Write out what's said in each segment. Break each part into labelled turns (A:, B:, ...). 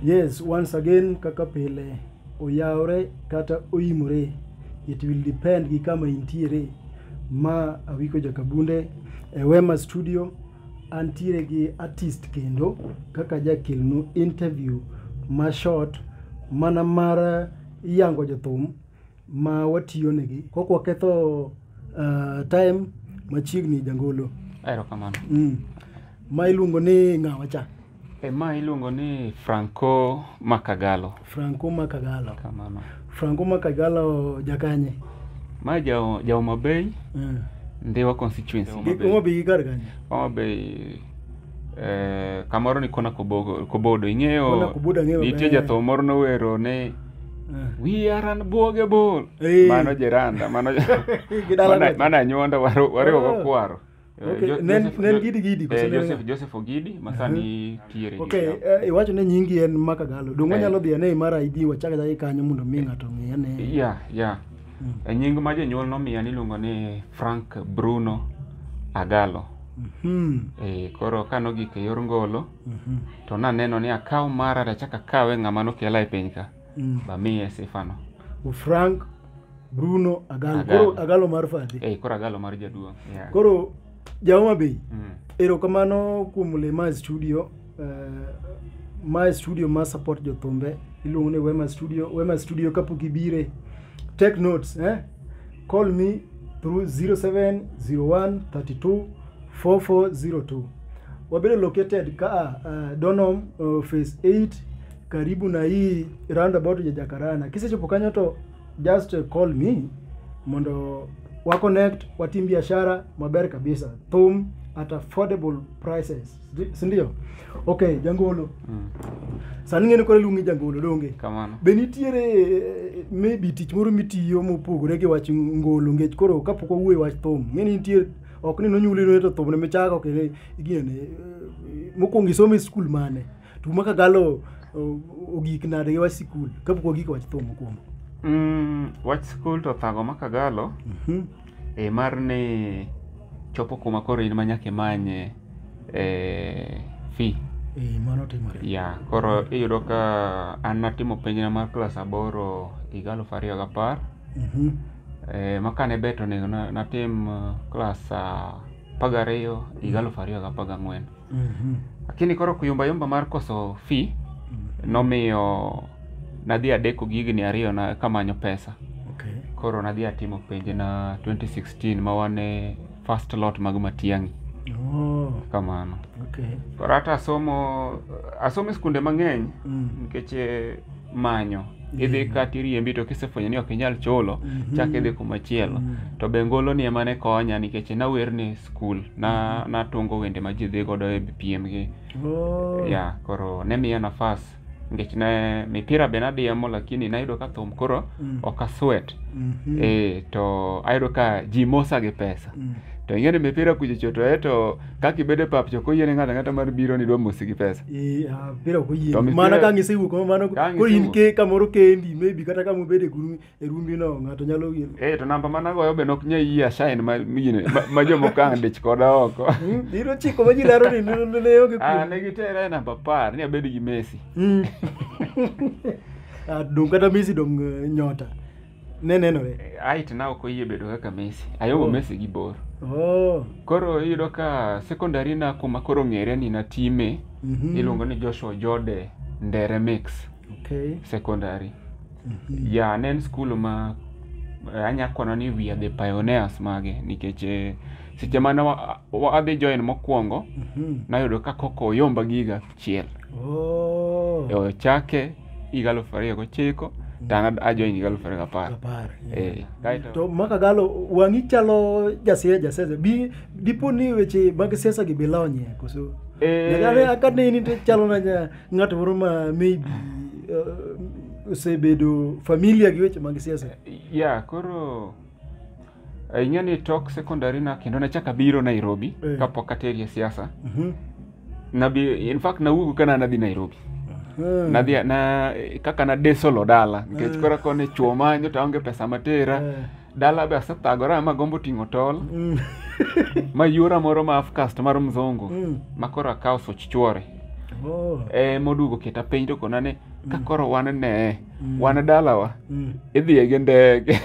A: Yes, once again kaka pile oyawre kata oimore. It will depend gi kama intiere. Ma Awiko Jakabunde e Wema Studio antiere gi artist kendo kaka jakelnu interview ma short mana mar yango jothum ma watiyo negi kok waketho uh, time machiegni jangolo erokamano mm. ma iluongo ni ng'awa cha e ma iluongo
B: ni franco makagalo franco makagalo
A: kamano franco
B: makagalo
A: jakanye ma jao
B: jaoma bay mm. ndiwa constituency Gi- Homa Bay. Homa Bay kar
A: kanye Homa Bay
B: eh, kamoro ni kona kobogo kobodo ing'eyo Kona Kobodo ang'eyo nitie
A: maber. jatho moro nowero
B: ni we are an buoge bol Eh. mano jiranda mano Gidala mana- gocha. mana anyuonda waro- wariwo Oh. gokwaro Eh, Okay, Jo- nen- Joseph-
A: nen Jo- Gidi Gidi, koso eh, nen ng'a? Joseph- Joseph Ogidi
B: masani tiere ok eh, iwacho ni
A: nyingi en makagalo donge Eh. wanyalo dhi ane imara id wachak achaka kanyo mondo mi ng'ato ong'e ane ya ya
B: E nying ma jonyuol nomiya niluongo ni Frank Bruno Agalo. Mhm. E, koro ka nogik e yor ngolo Mhm. to naneno ni akaw mara tachak akawe ng'ama nokela e piny ka Mm. bamiye sifano. U Frank
A: Bruno Agalo. Agalo. Koro Agalo mar Fadhi. E, koro Agalo mar jaduong'.
B: Yeah. Koro
A: Jahoma Bay. Mm. Erokamano kuom le ma studio. Uh, ma studio ma support jothumbe iluongo ni Wema Studio. Wema Studio kapok ibire take notes eh? Call me through 0701 32 4402. Wabedo located ka uh, Donholm uh, phase 8 karibu na hii roundabout ya Jakarana. Kisechopo kanyo to just uh, call me mondo wa connect watim biashara maber kabisa thum at affordable prices Ndi- si ndio okay jangolo Mm. sani ng'eni koro iluongi jangolo donge Kamano. be nitiere
B: eh,
A: maybe tich moro mitiyo mopogore gi wach ngolo ngech koro kapok wawuoye wach thum ng'eni nitie ok ni nonyuli noeto thum ne michako kendo iginene mokwongo isomo e skul mane to maka galo o- ogik nade gi wach sikul kapok wagik wach thum mokwongo Mm,
B: wach skul to thago ma kagalo Mhm. e mar ni chopo kuma koro in ma nyaka imanye eh, fee Eh,
A: mano timore ya koro iyudo
B: ka an natimo penjna mar klas aboro higa aluf ariyo gapar Mhm. eh, ma kane bet onego na- natim eh, klas ah, apar gariyo higa aluf ariyo gapar gang'wen Mhm. lakini koro kuyumbayumba mar koso fee Mhm. nomiyo nadhi adeko gi higni ariyo na kamanyo pesa Okay. koro nadhi atimo penje na 2016 ma wane first lot mag matiang'i Oh, kamano okay. koro hata asomo asomo e skunde mang'eny Mm. nikech eh, manyo idhi kata iriembi to kisefwenyo ni ok inyal chulo chak idhi kumachielo to be ngoloni ema ne konya nikech nawer ni e skul na natungo wende ma ji dhi godo e piem gi Oh. ya koro ne miya nafas nikech ne mipira be nadiemo lakini nayudo ka thum koro Mm. ok aswet Mhm. eh to ayudo ka ji mosa gi pesa Mm. to ing'e ni mipira kuchocho to e to kaka ibedo e pap cha ok oyiene ng'ato ang'ata mar biro ni idwa mosi gi pesa Eh, ah, pira ok To oyie
A: mipira- mana ka ngisewuok ma mano Ka koro in ngisewuok. ke kamoro kendi maybe kata kama ubede guru e rumbi no ng'ato nyalo yie eh to namba mana goyo be
B: nok nyai yie asain ma miyine ma- ma jomoko ang' dich koda oko Hmm, iro chiko ma ji
A: laro ni ne- ne ne onge ah kuom ne gitera e namba apar
B: ni abed gi Messi Hmm.
A: Ah, dong kata Messi dong eh, nyota ne nenore height na ok
B: oyie bedo kaka Messi. Ayomo Oh. Messi gi bor. oh. Koro iyudo ka secondary na kuma koro ng'ere ni natime mhm. iluongo ni Joshua Jode Ndere Mix okay. Secondary. mhm. Ya ne en skul ma eh, anya kono ni we are the pioneers mage nikech eh, seche mane wa- wa- adhi join mokwongo Mhm. nayudo ka koko oyomba giga achiel Oh. e ochake higa aluf ariyo gochiko to an ajoin higa aluf ariyo gapar Apar. Eh, kaeto- To maka galo
A: wang'i chalo jasiasa jasiasa. Bi dipo ni weche mag siasa gi bilonye koso. Eh. Nyakare akane ni to chalo na nya- ng'at moro ma maybe uh, osebedo familia gi weche mag siasa. ya koro
B: Eh, ing'e ni tok secondary na kendo nachaka biro nairobi Eh. kapok ateri e siasa Mhm. nabi in fact nawuogo kana nadhi nairobi Eh. nadhi na kaka nadesolo dala nikech Eh. kora kone chuo manyo to aonge pesa matera Eh. dala be asethagora ma gombo ting'o tol Mm. ma yuora moro ma afcast mar mzungu Mm. ma koro akawo soch chuore Oh. e modugo keta penj to kona ni ka koro wan ne Mm. wan e dalawa Mm. idhiye gi ndege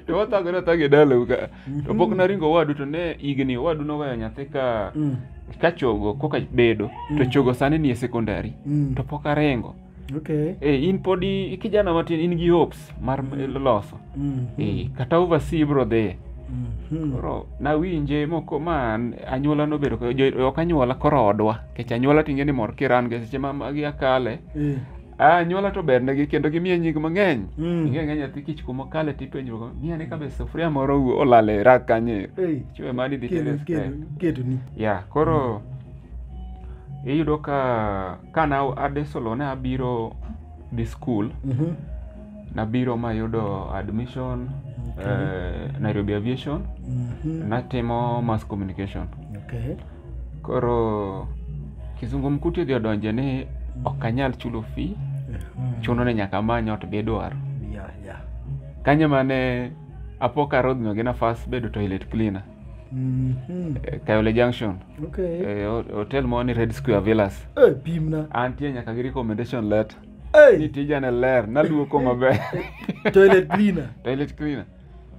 B: to wathagore athaga e dalau ka to pok naringo owadu to ne higni owadu noweyo nyathi ka Mm. ka chogo koka bedo to chogo sani ni e sekondari Mm. to pok aringo Okay. e, in pod i- kijana matin in gi hopes mar loso Mm. e, kata oversee bro dhiye Mhm. koro nawinje moko ma an- anyuola nobedo ka- jo- ok anyuola koro odwa kech anyuola tinge ni mor kiran ge seche ma magi akale Eh. Ah, anyuola to bernegi kendo gimiye nying mang'eny Mm. ing'e ng'e nyathi kich kuma kale tipenjruok miya ni kabe sufuria moro wuo olal e rak kanye Ei, chiwe mani dhi kedo- tere kedo- stek. kedo ni
A: ya koro
B: iyudo ka kana adesolo ne abiro dhi skul Mhm. nabiro mayudo admission Okay. eh, nairobi aviation Mhm. natimo mass communication Okay. koro kizungumkuti odhi odonje ni ok anyal chulo fee chuno ni nyaka amany ot bidwaro ya ya kanyo mane apoka arodhno gi nafas bedo toilet cleaner Mhm. e, kayole junction okay e, ho- hotel moro ni red square villas Eh, pimna antie
A: nyaka gi
B: recommendation letter ni Hey, tijane ler naluoko maber toilet
A: cleaner toilet cleaner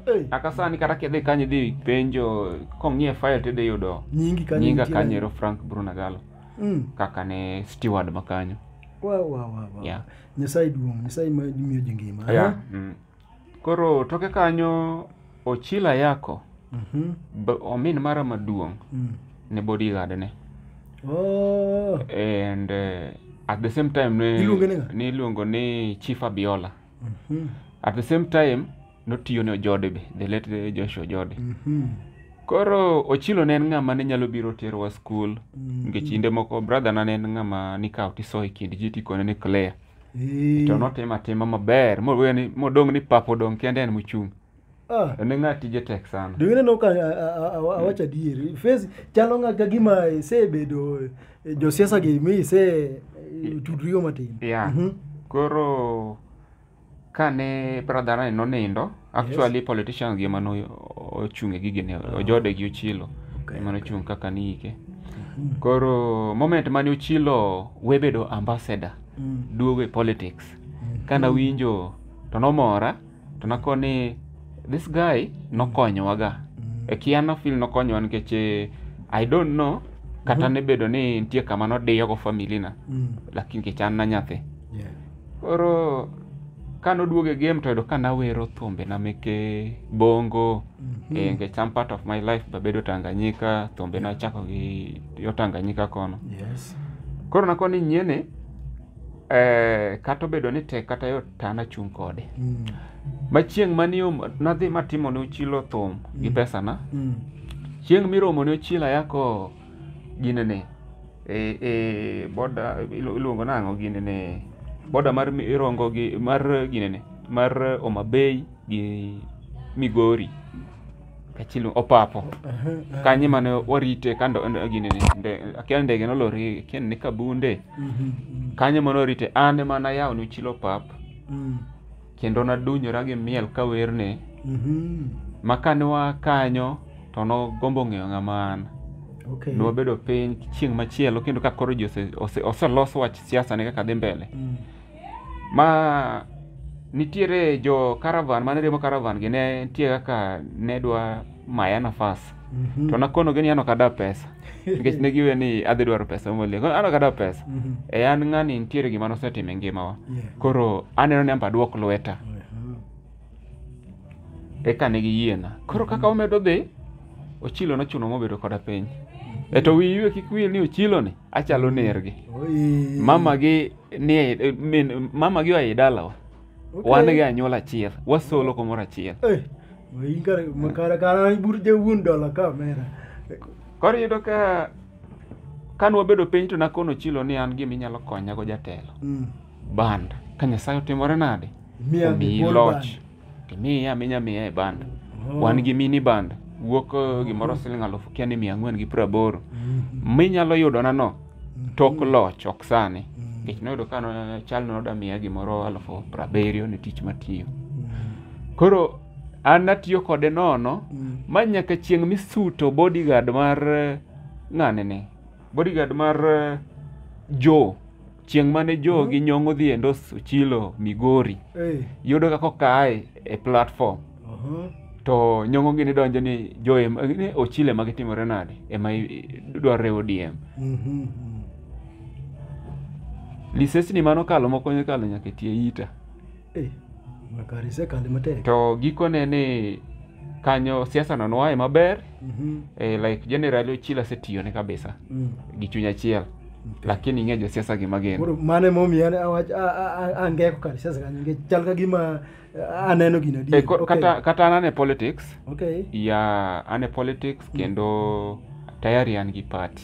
A: Hey. Kaka sani kata kidhi kanyo idhi penjo kong'iye file to idhi yudo Nyingi kanyo. nyinga nitie. kanyo ero Frank Bruno Galo Mm. kaka ne steward ma kanyo. Wa wa wa wa. Yeah. Nyasaye duong', Nyasaye ma miyo ji ngima. Yeah. ha? Mm.
B: Koro toke kanyo Ochila Yako Mhm. b- omin mara maduong' Mm. ne bodyguard ne Oh. and uh, at the same time ne Iluonge ni ng'a? ne iluongo ni Chief Abiola. Mhm. at the same time notiyo ne ojode be the late joshua ojode Mhm. koro ochilo ne en ng'ama ne nyalo biro terowa skul nikech kinde moko brother na ne en ng'ama nikawo tisoyo e kind ji tikone ni clear Eh. to notimo atima maber mowe ni- modong' ni pap odong' kende en mochung' Ah. en ng'a tije tek sana Dwayne aneno ka a- a-
A: a- a- awacho adieri face chalo ng'a ka gima isebedo eh, josiasa gi mi ise eh, tudrigo matin yeah Mhm. koro
B: kane brother ne nonindo actually politicians gi emane o- ochung' e gigene ojode gi ochilo Okay, emane ochung' kaka niike koro moment mane ochilo webedo ambassador Mm. duogo e politics kana winjo to nomora to nako ni this guy nokonyowaga e kia nafil nokonyowa nikech eh, i don't know kata ne bedo ni nitie kama nodiyogo familina Mm. lakini nikech an na nyathi Yeah. koro ka noduogo e game to yudo ka nawero thumbe na meke bongo Mhm. eh, nikech some part of my life babedo tanganyika thumbe nachako gi yo tanganyika kono Yes. koro nako ni nyiene eh, kata obedo ni tek kata yot to an achung' kode Mm. ma chieng' mani om- nadhi matimo ne ochilo thum gi Mm. pesana Mm. chieng' miromo ne ochila yako ginene e, e, boda ilu- iluongo nang'o ginene boda mar mi- irongo gi mar ginene mar omabei gi migori kachilo opapo kanye mane warite kando gini ni nde- akia ndege nolori akia ni kabunde kanye mane warite an ema nayawo ni chilo pap kendo nadunyora gi miel ka werne ma kane wa kanyo to nogombo ng'eyo ng'ama an Okay. ne wabedo piny chieng' machielo kendo ka koro ji ose- ose- oselos wach siasa ne kaka dhi mbele Mm. ma nitiere jo caravan mane riembo caravan gi ne nitie kaka ne dwa maya nafas Mhm. to nakonogi ni an ok adwa pesa nikech ne giwe ni adhi dwaro pesa molie Koro an ok adwa pesa Mhm. e an ng'ani nitiere gima nosetimo e ngimawa Yeah. koro aneno ni amba duok lweta Aha. eka ne giyiena koro kaka omedo dhi ochilo nochuno mobedo koda piny e to wiyi we kik wil ni ochiloni achalo nergi Oi. mama gi ni e- e- min mama gi oai dalawa Okay. wan gi anyuola achiel wasolo kumoro achiel Eh, waingare makara kara ibur je wuon dola kamera koro iyudo ka kane wabedo piny to nakono chilo ni an gima inyalo konyago jatelo Mm. band ka nyasaye otimore nade Miya omiyi ball loch band. Timiye aminya miya e banda. Oh. Wan gi mini banda. Wuok eh, gimoro siling alufu kia ni mia ang'wen gi piero aboro. Minyalo yudona no tok loch ok sani. Nikech noyudo ka no- chalno noda miya gimoro alufu piero abiriyo ni tich matiyo. Koro an natiyo kode nono ma nyaka chieng' misuto bodyguard mar eh, ng'ani ni. Bodyguard mar eh, Joe. chieng' mane jogi nyong'o dhi endos ochilo migori Eh, yudo kaka okaye e platform aha. to nyong'o gini donjo ni jo em- ni ochile ma gitimore nade ema i- i- dwarore odm Mhm, mhm. lisesni mano kalo moko nyakalo nyaka tie ita Eh,
A: makari sekali matek. to gikone ni
B: kanyo siasa no noaye maber Mhm. eh, like generally ochila asetiyone kabisa Mm. gi chuny achiel Okay. lakini ing'e josiasa gima gin Koro mane momiyo ne
A: awach a- a- a- angeko kar siasa kanyo nikech chal ka gima a- aneno gino adier. Eh, ko- Okay. kata kata an ane
B: politics Okay. ya ane politics kendo tayari an gi party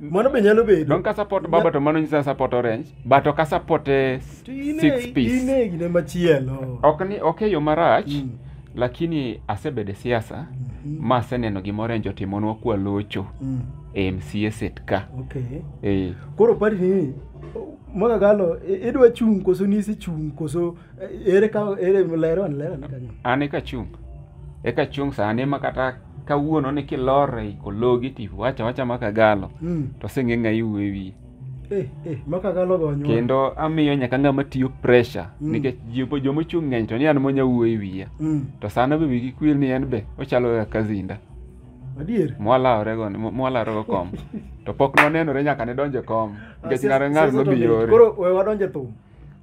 A: mano be nyalo bedo don ka support baba to mano
B: nyisa support orange but ok support eh, six piece ine gine machielo
A: ok ni ok e yo
B: marach mm. lakini asebede siasa mm -hmm. ma aseneno gima orange otimonwa kwa locho mm. e mca set ka okay. e.
A: koro pari ni mwaka galo idwa chung' koso nisi chung' koso ere ka ere lero an lero kanyo an e kachung
B: e kachung sani ma kata kawuono ni kilor e kologi ti wacha wacha ma kagalo mm. to senge ngai wewi eh eh ma
A: kagalo gonyo kendo amiyo nyaka
B: ngama tiyo pressure mm. nikech jipo jomo chung ngeny to ni an monya wuoyi wiya mm. to sana be wigi kwil ni en be ochalo ya kazinda adier
A: mwalawre go
B: mwalawre go kom to pok nonenore nyaka ne donje kom nikech ngare ngar no biyore koro we wadonje thum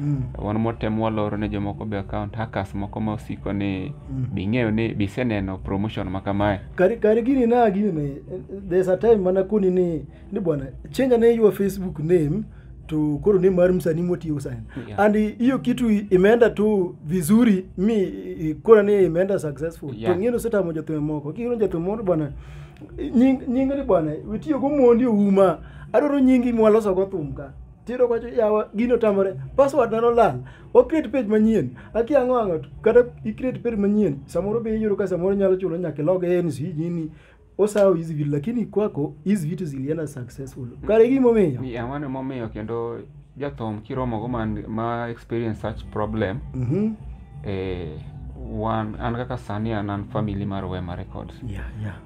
B: Mm. wan motemo waloro ne jomoko be account hackers moko ma osiko ni Mm. bing'eyo ni biseneno promotion ma kamae kari kari gini na
A: gini ne there's a time mana koni ni ni bwana change ne your facebook name to koro name mar msanii motiyo sana Yeah. and hiyo kitu i- imeenda tu vizuri mi i- kora ni imeenda successful Yeah. to ngino seta moja tume moko kiro moja tume moko bwana nying nyinga ni bwana witiyo go mondi uma adoro nyingi mwaloso go thumka tiyudo kwacho yawa gino tamore password na nolal o create page manyien aki ang'o ang'o to kata i create page manyien samoro be iyudo ka samoro nyalo chulo nyaka log in si nini osawo hizi vitu lakini kwako hizi vitu zilienda successful kare gimomiyo Ni ang'o ni momiyo kendo
B: jathum kiromogo man ma experience such problem Mhm. eh, wan an kaka sani an an family mar wema records yeah yeah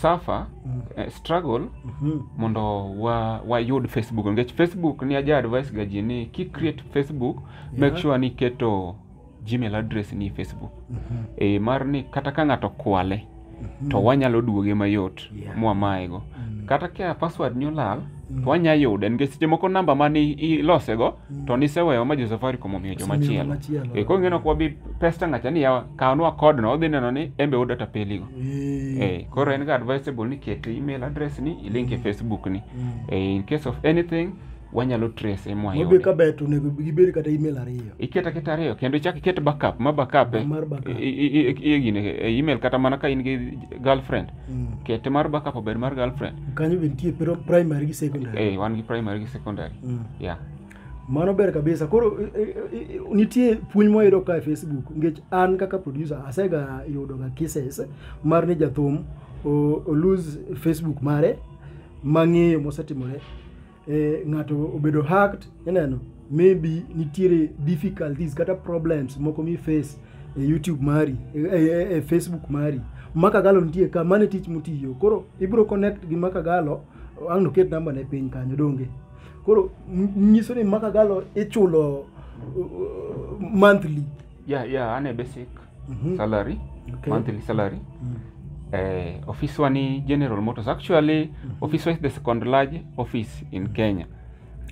B: suffer Mm. eh, struggle Mhm. mondo wa wayud facebook nikech facebook ni aja advice ga ji ni ki create facebook make Yeah. sure ni iketo gmail address ni facebook Mhm. e mar ni kata ka ng'ato kwale Mhm. to wanyalo duoge mayot Yeah. mwamayego Mm. kata ka password ni olal Mm. to wanya yude nikech seche moko namba mane ilosego to niseweyo ma jo-safaricom omiyo joma Osemiyo chielo machielo. Eh, koro ing'eno ok wabi pesta ng'acha ni yawa kawnwa kodno odhi neno ni embe u data peligo Eh, Eh, koro en ga advisable ni ket email address ni ilink e facebook ni Eh, in case of anything wanyalo trace e Mobe mwayude ka bet onego
A: gibed kata email ariyo. iket aketa ariyo kendo
B: ichak iket backup ma backup e- Mar backup. i- i- i- i- gine, e email kata mana ka in gi girlfriend Mm. kete mar backup obed mar girlfriend kanyo be nitie pero
A: primary gi secondary eh wan gi primary gi secondary
B: Mm. yeah
A: mano ber kabisa koro i- i- i- nitie puonj mwayudo ka e facebook nikech an kaka producer asega yudoga cases mar ni jathum o- olose facebook mare mang'eyo mosetimore eh, ng'ato obedo hacked ineno maybe nitiere difficulties kata problems moko mi face e youtube mari e, e, e, e facebook mari makagalo nitie ka mane tich mutiyo koro ibro connect gi makagalo ang' noket namba ne piny kanyo donge koro m- nyiso ni makagalo ichulo uh, monthly yeah
B: yeah an a basic Mhm. salary Okay. monthly salary Mm. eh, office wa ni general motors actually office wa is the second large office in kenya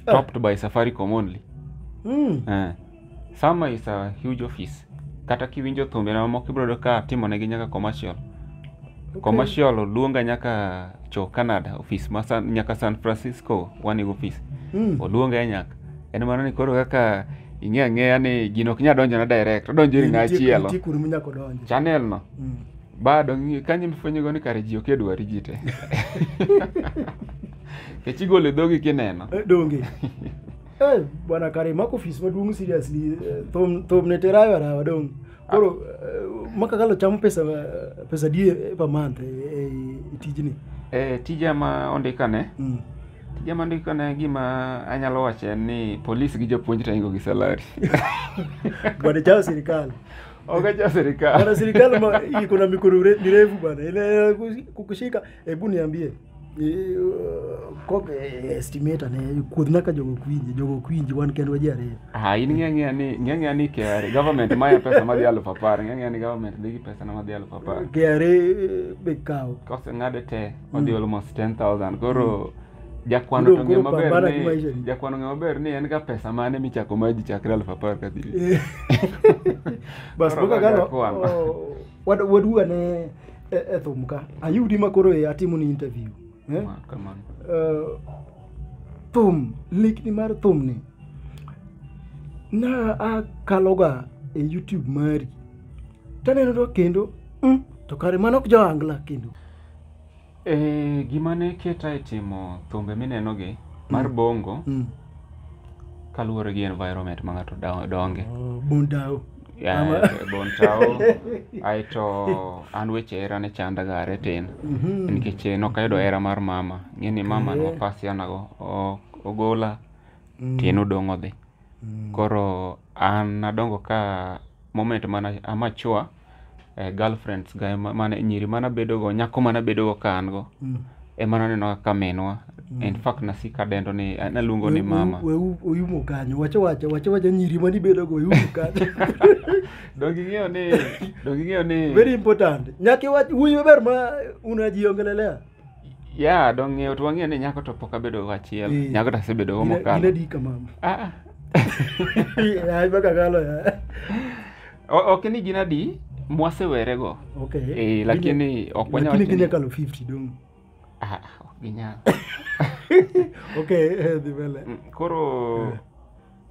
B: Ah. topped by safaricom only Mm. eh, sama is a huge office kata kiwinjo thumbe na mamoko ibrodo ka timonegi nyaka commercial Okay. commercial oluonga nyaka cho canada office ma san, nyaka san francisco wani office Mm. oluonga e nyaka En mano ni koro kaka ing'e ang'eya ni gino ok nyal donjona direct, odonjo ir ng'a Nitie- chielo. nitie kuonde minyako donje. Channel no. Mm. Bado ng'i- kanyo imifwenyogo ni kare ji ok e dwari ji te. Kech igolo e dhogi kineno. Eh, donge
A: Eh, bwana kare mako ofis maduong' seriously eh, thum thum ne terayo arawa dong' Koro eh, makakalo chamo pesa eh, pesa di eh, per month eh, eh, e tijni. e tija
B: ma ondikane Mm. tija ma ondikane gima anyalo wacho en ni polis gi jopuonj to ingo gi salari
A: Bwana chao serikali. ogacha
B: sirikal Bwana serikali ma
A: iko na mikono mire- mirefu bwana. Ile kukushika Hebu niambie eh, kok eh, estimator ne kuodh naka jogo kwinji jogo kwinji wan kendo waji ariyo Ah, in ng'e ng'eya ni
B: ng'e ng'eya ni KRA government maya pesa madhi alufu apar ng'e ng'eya ni government dhi gi pesa na madhi alufu apar KRA eh,
A: be kawo kose ng'ade te
B: odhi almost 10000 koro jakwano Koro- to ng'e koro maber pambana gi maisha ni ni. jakwano ng'e maber ni en ga pesa mane michako maji chakre alufu apar kadhi Eh.
A: bas Koro boka waga gano kwano. oh, Wad- waduga ne e, e thum ka ayudi ma koro e atimo ni interview eh? Ma, kamano Eh, thum likni mar thum ni na akaloga e youtube mari taneno to kendo mm, to kare mano ok joangla kendo Eh, gima
B: ne keta e timo thumbe minenogi mar bongo Mm. kaluwore gi environment ma ng'ato da- donge. Oh, Bundao.
A: Yeah, Ama-
B: Bontao. Aeto an weche hera ne chanda ga are tin. Mhm. Nikech eh, nok ayudo hera mar mama. Ng'e ni mama ne wapasiana go. o- Ogola. Tien odong' odhi. Koro an nadongo ka moment mana amature eh, girlfriends ga ema- mane nyiri mana bedogo nyako mana bedogo ka an go Mm. ema naneno kaka minwa in fact nasika dendo ni eh, naluongo ni We- mama we- we- uyumo kanyo
A: wacho wacho wacho wacho nyiri manibedogo uyumo kanyo donge
B: ing'eyo ni donge ing'eyo ni very important nyaka
A: iwach wuoyi maber ma unajiongelelea ya
B: donge ing'eyo to wang'eyo ni nyako to pok abedogo achiel Eh. nyako to asebedogo Ina- mokalo inadika mama
A: Ah, ah. Ay, baka kalo ya.
B: O- ok ni gin adi mwasewerego okay Eh, lakini ok wanyal lakini wacho ni- kenya kalo 50
A: dong Ah, ok
B: ginyal okay
A: eh, dhi mbele Mm, koro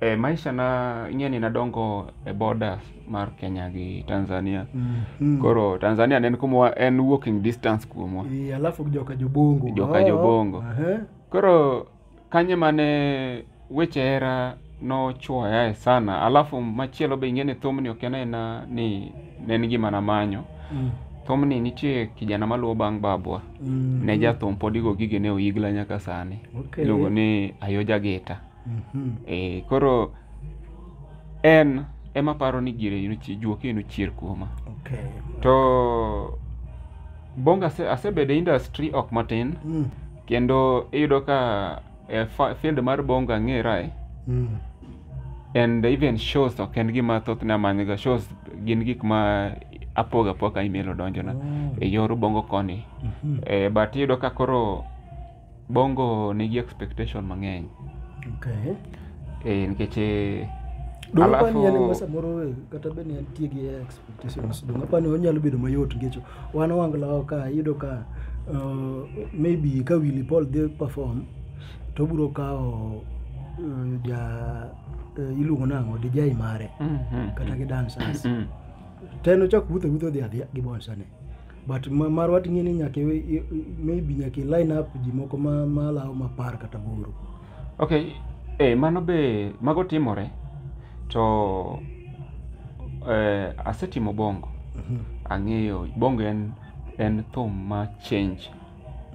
B: eh, maisha na ing'e ni nadongo e borders mar kenya gi tanzania Mhm. koro tanzania ne en kumwa en walking distance kuomwa Eh, alafu joka
A: jobongo Joka Oh, Jobongo. aha. koro
B: Kanye mane weche hera nochwoyae sana alafu machielo be ing'e ni thumni ok en aena ni ne en gima namanyo Mm. thumni nitie kijana maluwo bang' babwa Mm. ne jathum pod igo gige ne oyigla nyaka sani Okay. iluongo ni ayoja gita Mhm. e, koro en ema paro ni gire inochi- juoke inochier kuoma Okay. to bonga ase- asebedo e industry ok matin Mm. kendo iyudo ka eh, fa- field mar bonga ng'erae Mm. and even shows ok en gima thothne amanyga shows gin gik ma apoga apoga email odonjona Oh. e yor bongo koni Mhm. eh, but iyudo ka koro bongo nigi expectation mang'eny Okay. eh, nikech eh, Dwaro Alafu-
A: kwani en ma samoro eh, kata be ni antie gi ex Stations donge apani onyalo bedo mayot nikech wan wanglawa ka iyudo ka uh, maybe ka Willy Paul dhi perform to obiro kawo uh, ja uh, iluongo nang'o dijai mare kata gi dancers ten ochak wuotho wuotho dhi adhiya gi bonsane but ma- marwa ting'e ni nyaka iwe- i- i- maybe nyaka i line up ji moko ma- malawo mapar kata boro okay
B: e mano be mago timore to eh, asetimo bongo Mhm. ang'eyo bongo en en thum ma change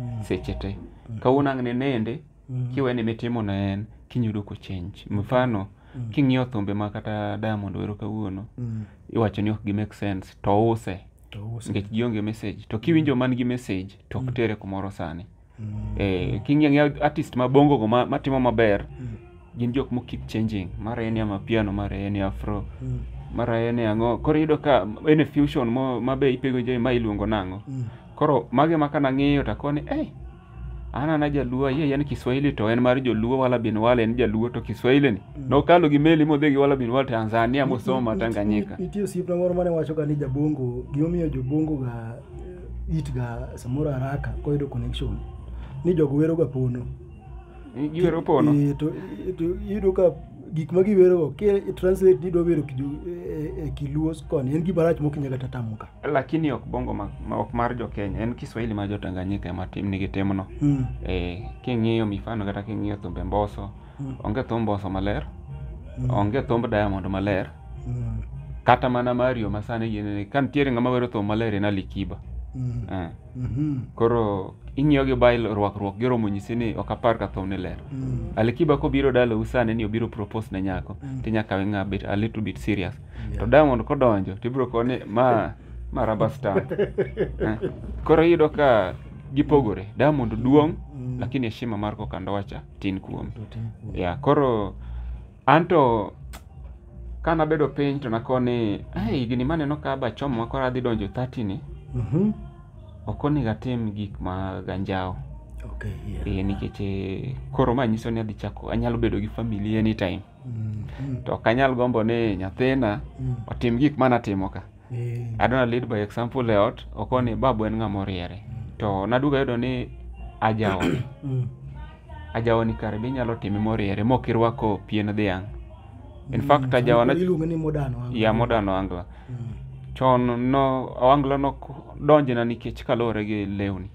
B: Mm. seche te kawuono ang' ne nende Mm. kiwe ni mitimo na en kinyudo ko change mfano Mm. king'iyo thumbe ma kata diamond wero kawuono Mm. iwacho ni ok gi make sense to use to use nikech gionge message to kiwinjo man gi message to ok tere kumoro sani Mm. eh, king'iyo ang'iya artist ma bongo go ma- matimo maber Mm. gin jok mokip changing mara en ya mapiano mara en ya afro Mm. mara en ya ang'o koro iyudo ka en e fusion mo- mabe ipego je ma iluongo nang'o Mm. koro mage ma kanang'iyo takoni ei an ana jaluo ayie ayie ni kiswahili to en mar joluo wala bin wala en jaluo to kiswahili ni nokalo gi meli modhi gi wala bin wala tanzania mosoma tanganyika Nitie osiepna moro mane
A: wachoga ni jabongo gimomiyo jobongo ga eh, it ga samoro haraka koyudo connection ni jogo wero ga pono giwero
B: pono Eh, to eh, to
A: iyudo ka gik ma giwerogo ki translate ni idwa wero kijo- eh, eh, kiluo koni en gima rach mokinya kata tamuka lakini ok bongo
B: ma, ma- ok mar jo Kenya en Kiswahili mar jo Tanganyika ema tim nigi timno Mm. eh, king'iyo mifano kata king'iyo thumbe mboso Mm. onge thum mboso maler Mm. onge thumb diamond maler Mm. kata mana mario masani yienene ka nitiere ng'ama wero thum maler en alikiba Mm. eh. Mhm. koro ing'iyo gi bail rwakruok giromo nyisi ni ok apar ka thum ni ler Mm. alikiba kobiro dalau sani ni obiro propose ne nyako Mm. tinyaka we ng'a bit a little bit serious to diamond kodonjo to ibiro koni ma ma rubber stamp Eh, koro iyudo ka gipogore diamond duong Mm. lakini heshima mar koka ndowacha tin kuome ya koro anto ka nabedo piny to nakoni "Ai, higni maneno ka bachomo ma koro adhi donjo 30 ni Mhm. ok onego atim gik ma ganjawo Okay, yeah. e, nikech eh, koro ma nyiso ni adhi chako anyalo bedo gi family anytime to ok anyal gombo ni nyathina otim gik mana timo ka I don't lead by example e ot okoni babu en ng'ama oriere to naduga yudo ni ajawoni ajawoni kare be inyalo time moriere mok irwako pien dhiang' in fact ajawa na iluonge ni modern wangla. ya
A: modern wangla
B: chon no wangla nok donjna nikech kaluwore gi lewni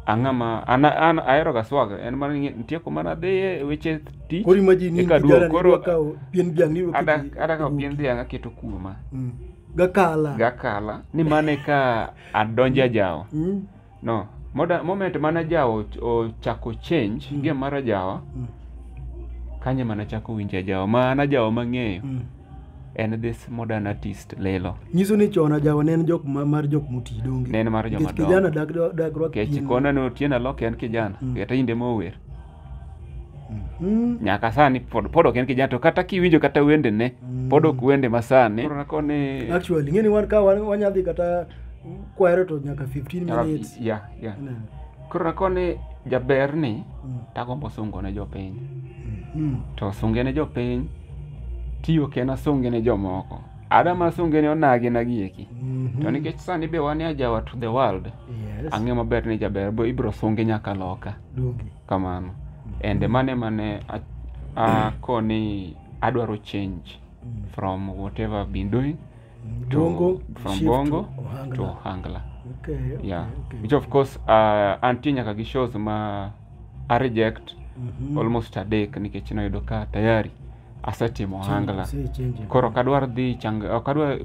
B: ang'ama an, an ahero ga swag en mana ni nitie kuma nadhiye e weche tich Koro imagine ni Eka duogo, kijana
A: ni koro- dwa kawo
B: pien dhiang' ni
A: ada oketi- ada ka pien
B: dhiang' aketo kuoma Mm. Gakala.
A: gakala ni mane
B: ka adonja jawo Mm. no moda moment mana jawo ch- ochako change Mm. gi mara jawa Mm. kanye mana chako winja jawo ma ana jawo mang'eyo Mm. en this modern artist lelo nyiso ni chon ajawa
A: ne en jok ma- mar jok moti donge ne en mar joma Nikech kijana
B: dongo dak- dak rwak
A: kech pien. kona ne otieno
B: alok en kijana Mm. kata inde mower Mhm. nyaka sani pod pod ok en kijana to kata kiwinjo kata wendene Mm. pod ok wende masani koni actually ng'eni wan ka
A: wan- wanyadhi kata kwero to nyaka 15 minutes yeah yeah Ne.
B: koro akone jaber ni Mm. tagombo sungo ne jopiny Mm. to sunge ne jopiny tiyo ken asunge ne jomoko adama asunge ne onagi nagieki Mhm. to nikech sani be wan e ajawa to the world Yes. ang'e maber ni jaber bo ibro sunge nyaka loka Donge. kamano ende mane mane a- akoni adwaro change Mm. from whatever I've been doing Bongo, from shift Bongo to Ohangla. to Ohangla. Okay, okay, Yeah. okay. Which of course uh, antie nyaka gi shows ma a reject Mhm. almost a day nikech noyudo ka tayari asetimo Ohangla. Say change. Koro ok adwar dhi chang ok adwar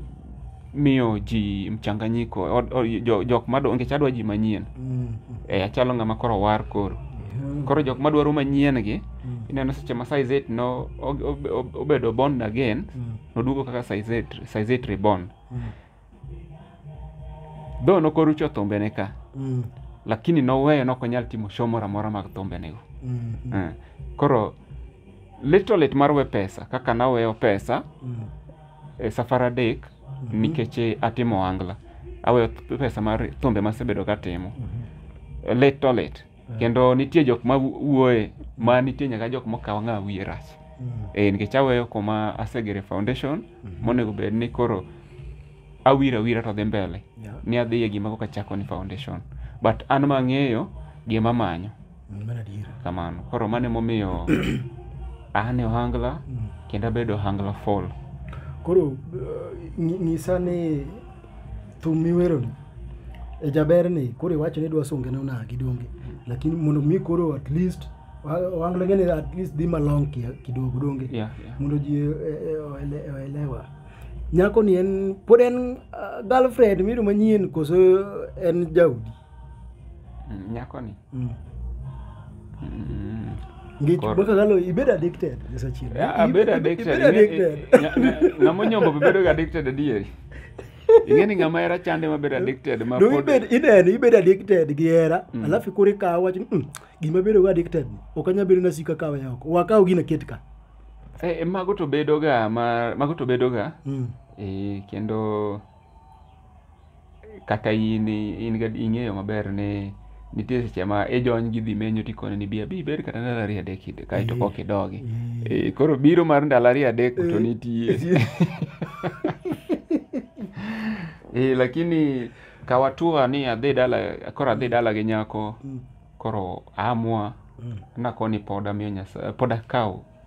B: miyo ji mchanganyiko od- od- jo- jok ma nikech adwa ji manyien. Mm, Eh, achalo ng'ama koro war koro. mm, Koro jok ma dwaro manyien gi mm, ineno seche ma size 8 no o- o- o- obedo born again mm. noduogo kaka Saizet- Saizet Reborn. Though nokorucho thumbene ka, Mm. lakini noweyo nok onyal timo show moro amora mag thumbenego. Mm. Eh, Koro little lit mar we pesa kaka naweyo pesa Mm. e safar adek nikech eh, atimo angla aweyo th- pesa mar thumbe masebedo katimo little lit kendo nitie jok ma wuoye ma nitie nyaka jok mokawo ng'a wiye rach eh, nikech aweyo kuma asegere foundation monego bed ni koro awiro awira to dhi mbele Yeah. ni adhi e gima koka chako ni foundation but an ma ang'eyo gima manyo Mm, Mano adier. kamano koro mano emomiyo an e ohangla kendo abedo ohangla fall Koro eh,
A: nyi- nyisa ni thum miweroni e jaber ni koro iwacho ni idwa songene onagi donge lakini mondo mi koro at least wa- wanglenge ni at least dhi malong kia- kidogo donge Yeah, yeah. mondo ji eh, eh, oele- oelewa nyako ni en pod en ah, girlfriend miru manyien koso en jaudi
B: Mm, nyako ni
A: Mm.
B: Mm.
A: Ngech Kor- boka galo ibedo addicted Yesu achiel. Yeah, I bet addicted.
B: Ibedo Ing'e- addicted. nya- nya- Ng'ama onyombo be bedo addicted adieri. Ing'e ni ng'ama hera chande ma bedo addicted ma Do pod- ibed ineno ibedo
A: addicted gi hera Mm. alafu koro ikawo wach ni, "Mm, gima bedo go addicted ni ok anyal bedo nasika kawe oko wakaw gino ket ka Eh, eh, mago
B: to bedoga ma mago to bedoga Mm. eh, kendo kata in in ga ing'eyo maber ni nitie seche ma ijony gi dhi menyo tikone ni bia bi bed kata ndalo ariyo adek ide kae to kok idogi e, koro biro mar ndalo ariyo adek to nitie e, lakini kawatua ni adhi dala koro adhi dala gi nyako koro amua nakoni pod amiyo nyasaye pod akawo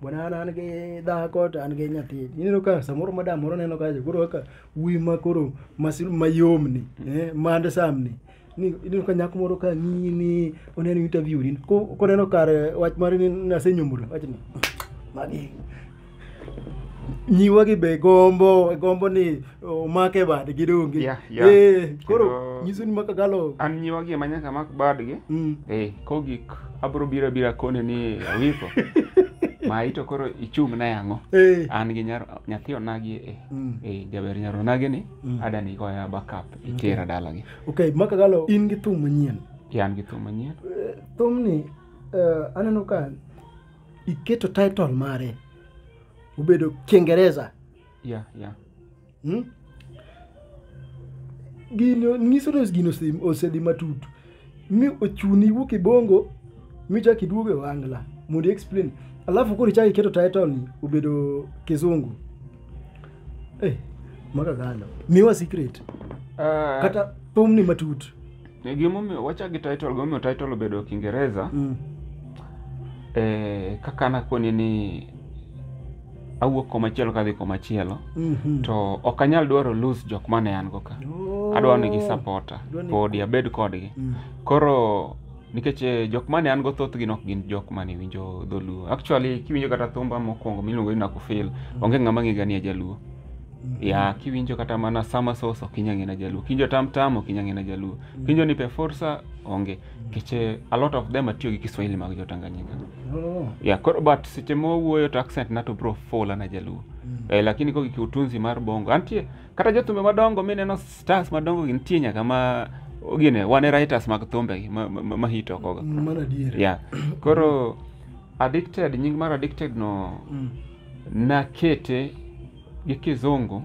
A: bwana an an gi dhako to an gi nyathi ineno ka samoro madam moro neno kacha koro kaka wuyi ma koro masil mayom ni eh, mand sam ni Ni- ineno ka nyako moro ka ng'iyi ni oneno interview ni ko- koneno kar eh, wach mare ni nasenyomoro wach ni magi nyiwa gi be gombo gombo ni omake badgi donge Yeah, yeah. Eh, koro Kendo- nyiso ni maka galo an nyiwagi ema nyaka
B: mak badgi Mm. eh kogik abro bira bira kone ni awiko ma ito koro ichung na yango Eh. an gi nyar nyathi onagi eh Mm. eh jaber nyar onagi ni Mm. ada ni goya backup itera dalagi okay maka galo in
A: gi thum manyien yan gi thum manyien
B: Eh, thumni
A: eh, aneno ka iketo title mare obedo kiingereza Yeah,
B: yeah. Hmm?
A: Gino nyiso ni gino ose- osedhi matut mi ochuni iwuok e bongo michak iduogo e wangla mondo explain alafu koro ichak iketo title ni obedo kizungu eh, maka galo miwa secret Uh, kata thumni matut E, gimomiyo
B: wachak gi title gimomiyo title obedo kingereza Mm. eh, kaka nakoni ni awuok komachielo kadhi komachielo Mhm. to ok anyal dwaro lose jok mane an go ka Oh. adwaro ni gisapota Dwa ni- podi abed kodgi Mm. koro nikech eh, jok mane an go thothgi nok gin jok mane winjo dholuo actually kiwinjo kata thumba mokwongo miluongo ni nakufil onge ng'ama ng'ega ni ajaluo ya kiwinjo kata mana sama sos ok inya ng'e na jaluo kiwinjo tam tam ok inya ng'e na jaluo kiwinjo ni pe forsa onge keche a lot of them atiyo gi kiswahili mag jo tanganyika Oh. ya koro but seche mowuoyo to accent na to bro fola na jaluo eh, lakini kogi kiutunzi mar bongo antie kata jothumbe madongo mineno stars madongo gi nitie nyaka ma gine wane writers mag thumbegi ma, ma, ma, ma hit okoga Mano adier. yeah
A: koro
B: addicted nying mar addicted no Mm. nakete gi kizungu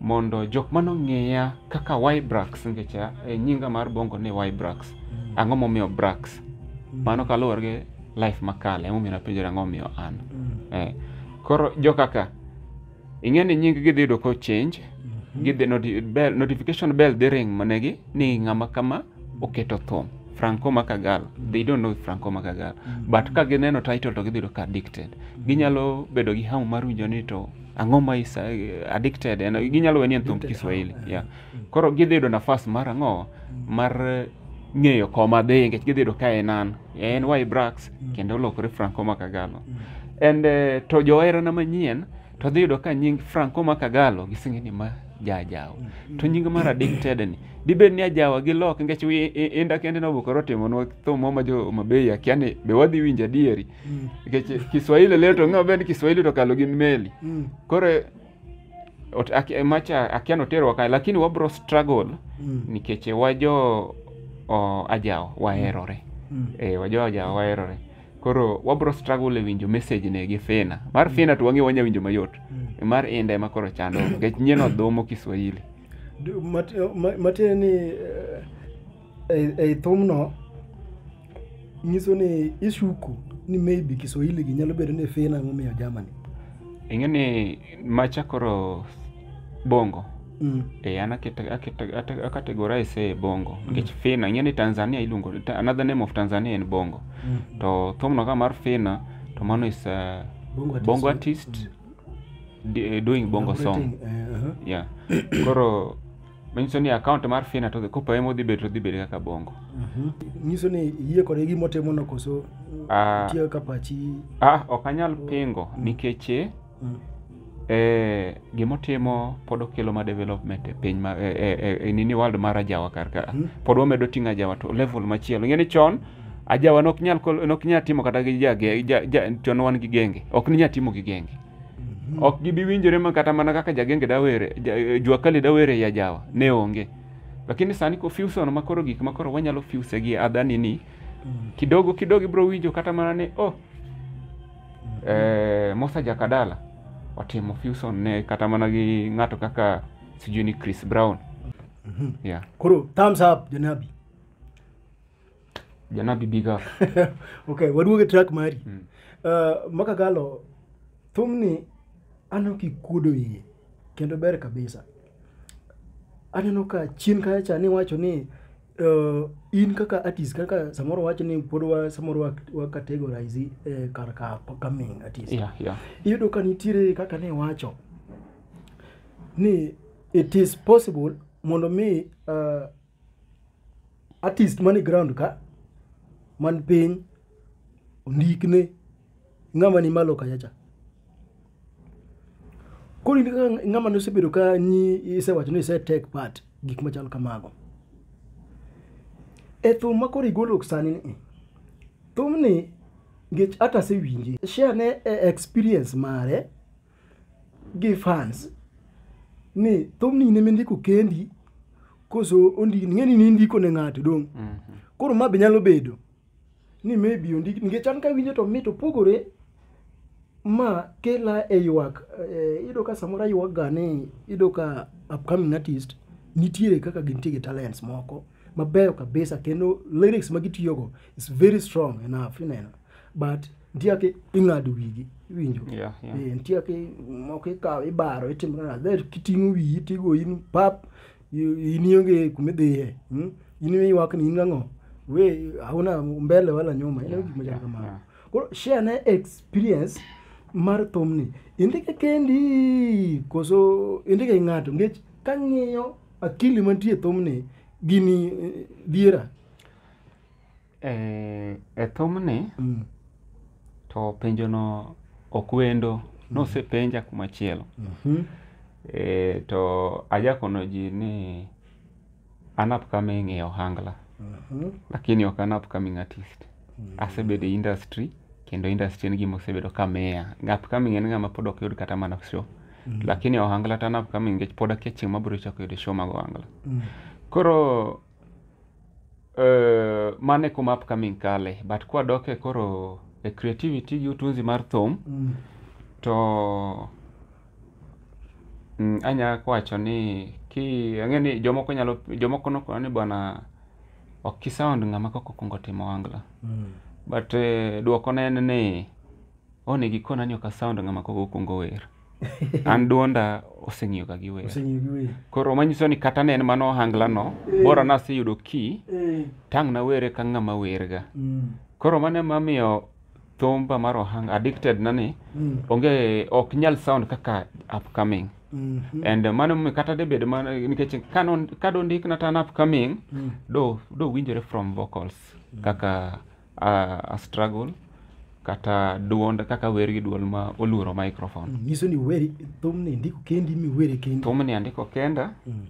B: mondo jok mane ong'eya kaka Ybrax nikech a- e nyinga mar bongo ni Ybrax. Ang'o momiyo Brax? Mano kaluwore gi life makale emomiyo napenjora ang'o momiyo an. Eh, koro jo kaka ing'e ni nying gidhi yudo ko change gidhi noti- bell, notification bell dhi ring manegi ni ng'ama kama oketo thum Franco Makagal they don't know Franco Makagal but ka gineno title to gidhi yudo ka addicted ginyalo bedo gi hamu mar winjo ni to ang'o ma is eh, addicted en ginyalo weni en thumb Addicted, Kiswahili ah, yeah. koro gidhi yudo nafas mar ang'o mar eh, ng'eyo koma dhi nikech gidhi yudo ka en an en Ybrax kendo olokore Franco Makagalo and eh, to joherana manyien to dhi yudo ka nying Franco Makagalo gisenge ni ma jajawa to nying mar addicted ni dibed ni ajawa gi lok nikech wi- i- i- inda kende nobukore otimonwa thum moro ma jo Homabay akia ni be wadhi winjo adieri nikech Kiswahili leo to ng'eyo bed Kiswahili to kalo gi meli Mm. koro ot- aki- macha akia noterwa kae lakini wabro struggle Mm. nikech wajo o, ajawa waherore Mm. eh, wajo ajawa waherore koro wabro struggle e winjo message ne gi fina mar fina to wang'e wanya winjo mayot Mm. mar inda ema koro chando nikech nyien odhomo kiswahili Du- mat- ma- matiende
A: ni eh, ei- ei thumno nyiso ni ishuku ni maybe kiswahili gi nyalo bedo ni fina momiyo germany ing'e ni
B: macha koro bongo Mm. eh, an akete- akete- ate- akategorize e bongo nikech fina ing'e ni tanzania iluongo ta- another name of tanzania en bongo Mm. to thumno ka mar fina to mano is uh, Bongo artist. bongo artist di- eh, doing bongo song Operating, eh, aha. yeah koro manyiso ni account mar fina to kopa ema odhi bedo to odhi bedo kaka bongo Mhm. nyiso
A: ni yie kode gima otimono koso Ah. tiyo ka pachi ah ok anyal
B: pingo nikech eh, mm. eh, gima otimo pod okelo ma development e piny ma e, e, e, e nini world mar ajawa kar ka mm. pod wamedo ting'o ajawa to level machielo ing'e ni chon ajawa nok nyal nok nyal timo kata gi ja, ja, ja chon wan gi genge ok ni nyal timo gi genge mm -hmm. ok gibi winjore ma kata mana kaka jagenge dawere ja, eh, jua kali dawere ya jawa ne onge lakini sani ko fusion ma koro gik ma koro wanyalo fuse gi adhani ni mm. kidogo kidogo ibro winjo kata mana ni oh eh, Musa Jakadala otimo fusion ne kata mana gi ng'ato kaka sijui ni Chris Brown yeah. koro thumbs
A: up janabi
B: Janabi big up okay waduoge
A: track mari Mm. uh, makakalo thumni aneno kikuodo iye kendo ber kabisa aneno ka chien kacha niwacho ni uh, in kaka artist kaka samoro wacho ni pod wa samoro wa, wa categorize eh, kar ka upcoming artist yeah, yeah. iyudo ka
B: nitiere
A: kaka ne wacho ni it is possible mondo mi uh, artist mani ground ka man piny ondikne ng'ama ni malo kachacha koro in kaka ng'ama nosebedo ka nyi isewacho ni ise take part gik machal kamago e thum ma koro igolo sani ni thumni ngech hata asewinje share ne e experience mare gi fans ni thumni in emindiko kendi koso ondini ng'eni ni indiko ne ng'ato dong' koro ma be nyalo bedo ni maybe ondik nikech an kawinjo to mit opogore ma kela e ywak eh, iyudo ka samoro aywak ga ni iyudo ka upcoming artist nitiere kaka gintie gi talents moko mabeyo kabisa kendo lyrics ma gitiyogo is very strong enough ineno but nitie kaka ing'ado wigi iwinjo Yeah, yeah. Eh, nitie kaka moko ikawo ibaro itimo nana there kiting'o wiyi tigo in pap I- in ionge kuma idhiye mm? in iywak ni in ang'o we hauna mbele wala nyuma ineno gik machal kamano koro share ne experience mar thumni indike kendi koso indike gi ng'ato nikech kang'iyo akili mantie e thumni gini eh, diera Eh,
B: e thumni Mm. to penjono ok wendo nosepenja kumachielo Mhm. e, to ajakono ji ni an upcoming e ohangla Mhm. lakini ok an upcoming artist asebedo e industry kendo industry en gima osebedo ka miya upcoming en ng'ama pod ok yud kata mana show lakini e ohangla to an upcoming nikech pod akia chieng' mabiro chako yudo show mag ohangla Mm. koro Uh, mane kuma upcoming kale but kwa doke koro e creativity gi utunzi mar thum mm. to mm, anya kwacho ni ki ang'e ni jomoko nyalo jomoko nokona ni bwana ok kisound ng'ama kok okwongo timo wangla mm. but eh, dwoko ne en ni onego ikona ni ok asound ng'ama kok okwongo wer an duonda oseng'iyo ga giweya oseng'iyo giweya koro manyiso ni kata ne en mana ohangla no eh. bora naseyudo ki eh. tang' nawere ka ng'ama werga mm. koro mano emamiyo thumba mar ohanga addicted na ni mm. onge ok nyal sound kaka upcoming mm -hmm. and mano mi kata de bed mana nikech kano kado ndik na tan upcoming mm. do do winjore from vocals mm. kaka a, a struggle kata duond kaka wer gi duol ma oluoro microphone nyiso ni weri
A: thumni ndiko kendi miwere kendi thumni andiko kenda
B: Mm.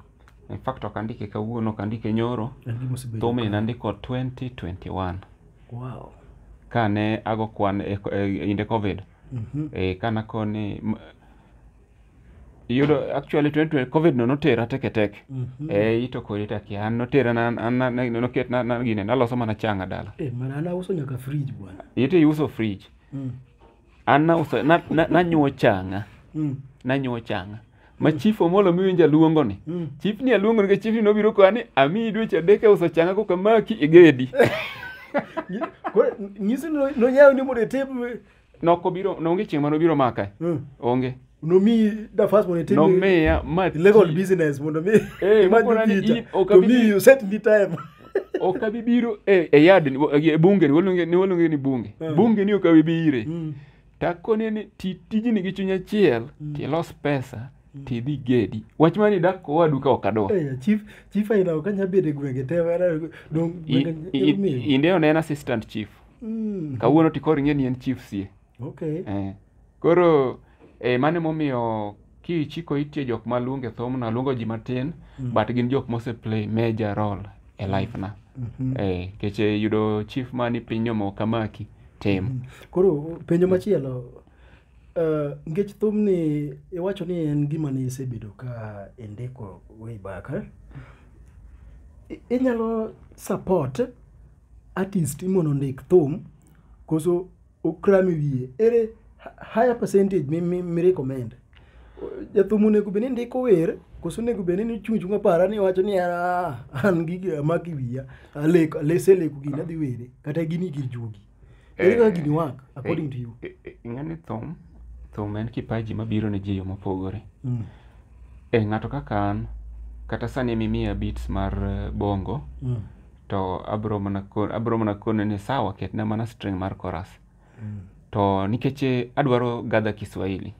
B: in fact ok andike kawuono ok andike nyoro En gima osebedo thumni ka- nandiko 2021 wow
A: kane
B: ago kwan e, e, inde covid Mhm. e, kana koni m- yudo actually 2020 covid no notera teke teke mm -hmm. eh ito kodi taki an notera na na noket na na gine naloso mana changa dala eh mana ana uso nyaka
A: fridge bwana ite yuso fridge
B: mm. ana uso na na, na nyuo changa mm. na nyuo changa ma chief omolo miwinja luongo ni mm. chief ni aluongo ni chief ni nobiro kwa ni ami dweche adek e uso changa koka maki igedi
A: nyisi no nyayo ni mondo e table Noko biro
B: nonge chieng' mano biro maka. Mm. Onge. Nomi
A: da first one tell Nomiya ma
B: legal
A: business mondo mi. Eh, mokona ni
B: in
A: okabi. To me you set me time. okabi
B: biro e, e yard e bunge ni wolunge ni wolunge ni bunge. Mm. Bunge ni okabi bire. Mm. Takone ni tijini gi chunya chiel, mm. ti los pesa. tidhi gedi wach mani dak kowa duka ok adwa hey, eh, chief chief aina
A: ok anya bedo e gwenge te
B: inde onena assistant chief Mm. kawuono to koro ing'e ni en chief sie Okay. eh.
A: koro
B: eh, mano emomiyo kichiko itie jok maluonge thumno aluongo ji matin Mm. but gin jok mose play major role e life na Mhm. eh, kech eh, yudo chief mani piny omo kamaki tem Koro penjo
A: machielo eh, nikech thumni iwacho ni en gima ne isebedo ka indiko way back eh? I- inyalo support artist mondo ondik thum koso okram e wiye ere higher percentage mi, mi, mi recommend jathum onego bed ni ndiko wer koso onego bed ni chung' chung' apara ni wacho ni "Ah, an gigi amako e wiya aleko aseleko gini adhi were kata gini gir juogi ere kaka gini work according to you ing'ani thum
B: thum en kipaji mabiro ne ji yo mopogore Mm, e ng'ato kaka an kata sani mimiya beats mar eh, bongo mm, to abro mana ko- abro mana kone ni sawa ketna mana string mar chorus to nikech eh, adwaro gather kiswahili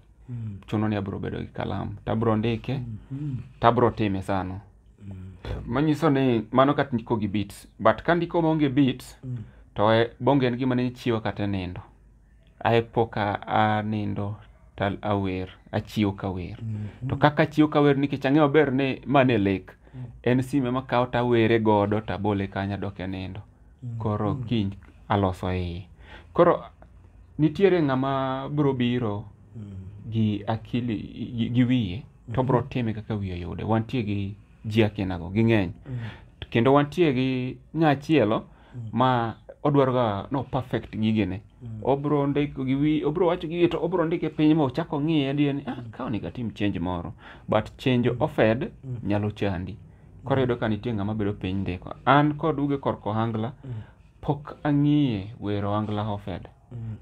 B: chuno ni abro bedo gi kalam tabro ndike tabro time sano manyiso ni mano kat ndiko gi beats but ka ndiko maonge beats to eh, bonge en gima ne chiwa kata e nindo Ae pok a- anindo to awer, achiew ka wer. To kaka achiew ka wer nikech ang'eyo maber ni ma ne lek, en sime ma kawo to awere godo to abole kanyo adok e nindo. Koro kiny aloso iye. Koro nitiere ng'ama biro biro gi akili gi, gi wiye to biro time kaka wiye oyude. Wantie gi ji akinago, ging'eny. Kendo wantie gi nyachielo ma odwaro ga no perfect gigene obro ndiko gi wi obro wacho gige to obro ndike piny ma ochako ng'iye adier ni ah ka onego atim change moro but change ofed nyalo chandi koro yudo ka nitie ng'ama bedo piny ndiko an kod uge korko ohangla pok ang'iye wero ohangla ofed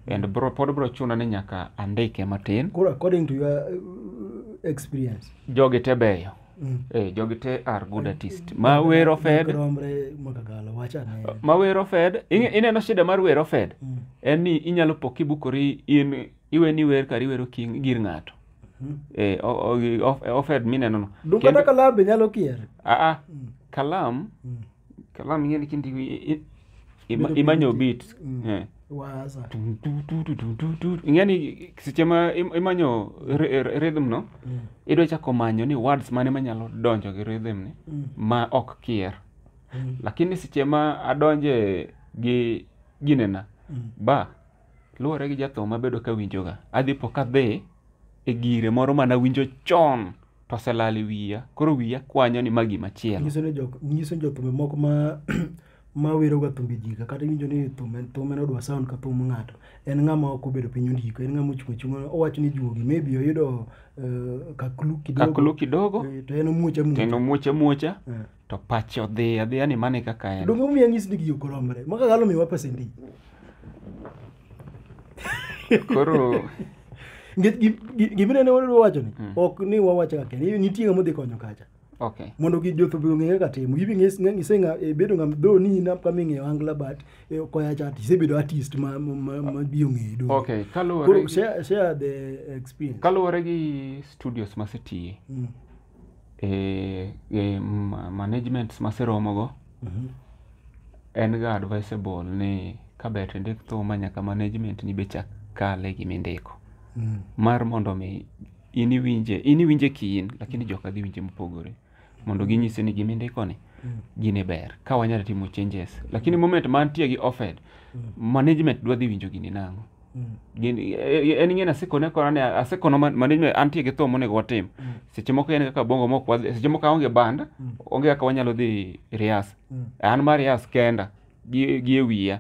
B: and bro, pod bro chuna ni nyaka andike matin Koro according to your
A: uh, experience. jogi te
B: beyo Mm. eh, jogi te are good artist ma wero fed Romre makagala wacha ne. ma wero fed ing- ineno shida mar wero fed Mm. en ni inyalo po kibukori in iwe ni wer kar iwero king gir ng'ato Mhm. eh, o- o- of- ofed minenono Dum kata kalabe nyalo
A: kier. aa kalam
B: Mm. kalam ing'e ni kindi i- i- ima- Bedo imanyo piny beat ti- mm. Eh. waza
A: Tum, tu, tu, tu, tu, tu, tu. ing'e
B: ni seche ma im- imanyo ry- ry- rhythm no Mm. idwa chako manyo ni words mane manyalo donjo gi rhythm ni Mm. ma ok kier Mm. lakini seche ma adonje gi ginena Mm. ba luwore gi jathum mabedo ka winjoga adhi po kadhi e gire moro mana winjo chon to oselal e wiya koro wiya kwanyo ni ma gima chielo nyiso ni jok nyiso ni jothumbe
A: moko ma ma weroga thumbe jiga kata iwinjo ni thum en thum en odwa sound ka thum ng'ato en ng'ama ok obedo piny ondiko en ng'ama ochung' achung' owacho ni juogi maybe oyudo eh, kaklu kidogo kaklo kidogo eh, to en omuoch amuoch to en omuoch amuocha Eh. to pache odhi adhiya ni mane kaka en Donge umiya ng'is ni giyo koromre. Maka galo miwa pesa ndi.
B: koro Nge-
A: gi- gi- Gimine ne wadwa wacho ni Mm. ok ni wawacho kaka ni nitie ng'ama odhi konyo kacha. okay Mondo gi
B: jothubi ong'e
A: kaka timo. Gibi ng'is ng'ise ng'a e, bedo ng'am do ni na kama ing'eyo angla but e, koya chat isebedo artist ma ma- ma ma bi ong'eyi do. okay kaluwore Koro
B: gi- share share the
A: experience. kaluwore gi
B: studios masetiye Mm. e, e ma- managements maseromogo en ga advisable ni ka ber tindik thuma nyaka management ni be chak kale gima indiko mar mondo mi in iwinje in iwinje kiin lakini jok adhi winje mopogore mondo ginyise ni gima indiko ni gini ber ka wanyalo timo changes lakini moment mantie gi offered management dwa dhi winjo gini nang'o Gin- e- e- en ing'eni asekone kona ni asekono man- manage me- antie gi thum monego watim seche moko en kaka bongo mok wadhi seche moko aonge band onge kaka wanyalo dhi rias an mar rias kenda gi gi e wiya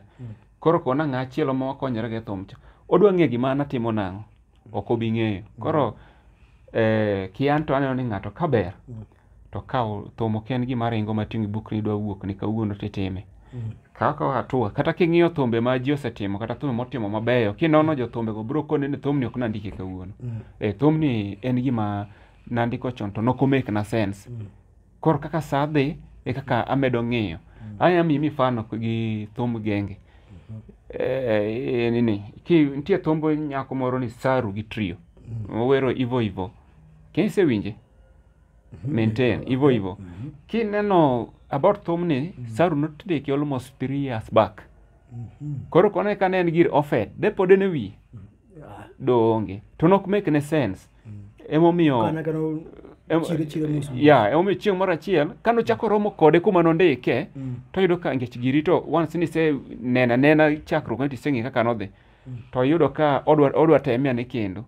B: koro kona ng'a achielo ma wakonyore gi thum cha odwa ng'e gima an atimo nang'o ok obi ng'eyo koro eh, ki an to aneno ni ng'ato ka ber to ka thum ok en gima ringo ma ting'i buk ni idwa wuok ni kawuono titime mm. kaka hatua kata king'iyo thumbe ma ji osetimo kata thumbe motimo mabeyo kinono mm. jothumbego biro koni ni thumni ok nandike kawuono mm. e thumni en gima nandiko chon to nok omake na sense mm. koro kaka sa dhi e kaka amedo ng'iyo mm. anya miyi mifano gi thum genge mm-hmm. e, e, nini ki nitie thumbo nyako moro ni saru gi trio mm. owero ivo ivo kinsewinje maintain hivyo hivyo ki neno about thumni saru notdeki almost three years back koro kone kane en gir ofed depode ne wi doonge to nok make ne sense emomiyo Kana kana em- chire chire musu. ya emomiyo chieng' moro achiel ka nochako romo kode kuma nondike Mm. toyudo ka ngech giri to once nise nena nena chakruok ne tiseng'e kaka nodhi to yudo ka odwa odwa teme ane kendo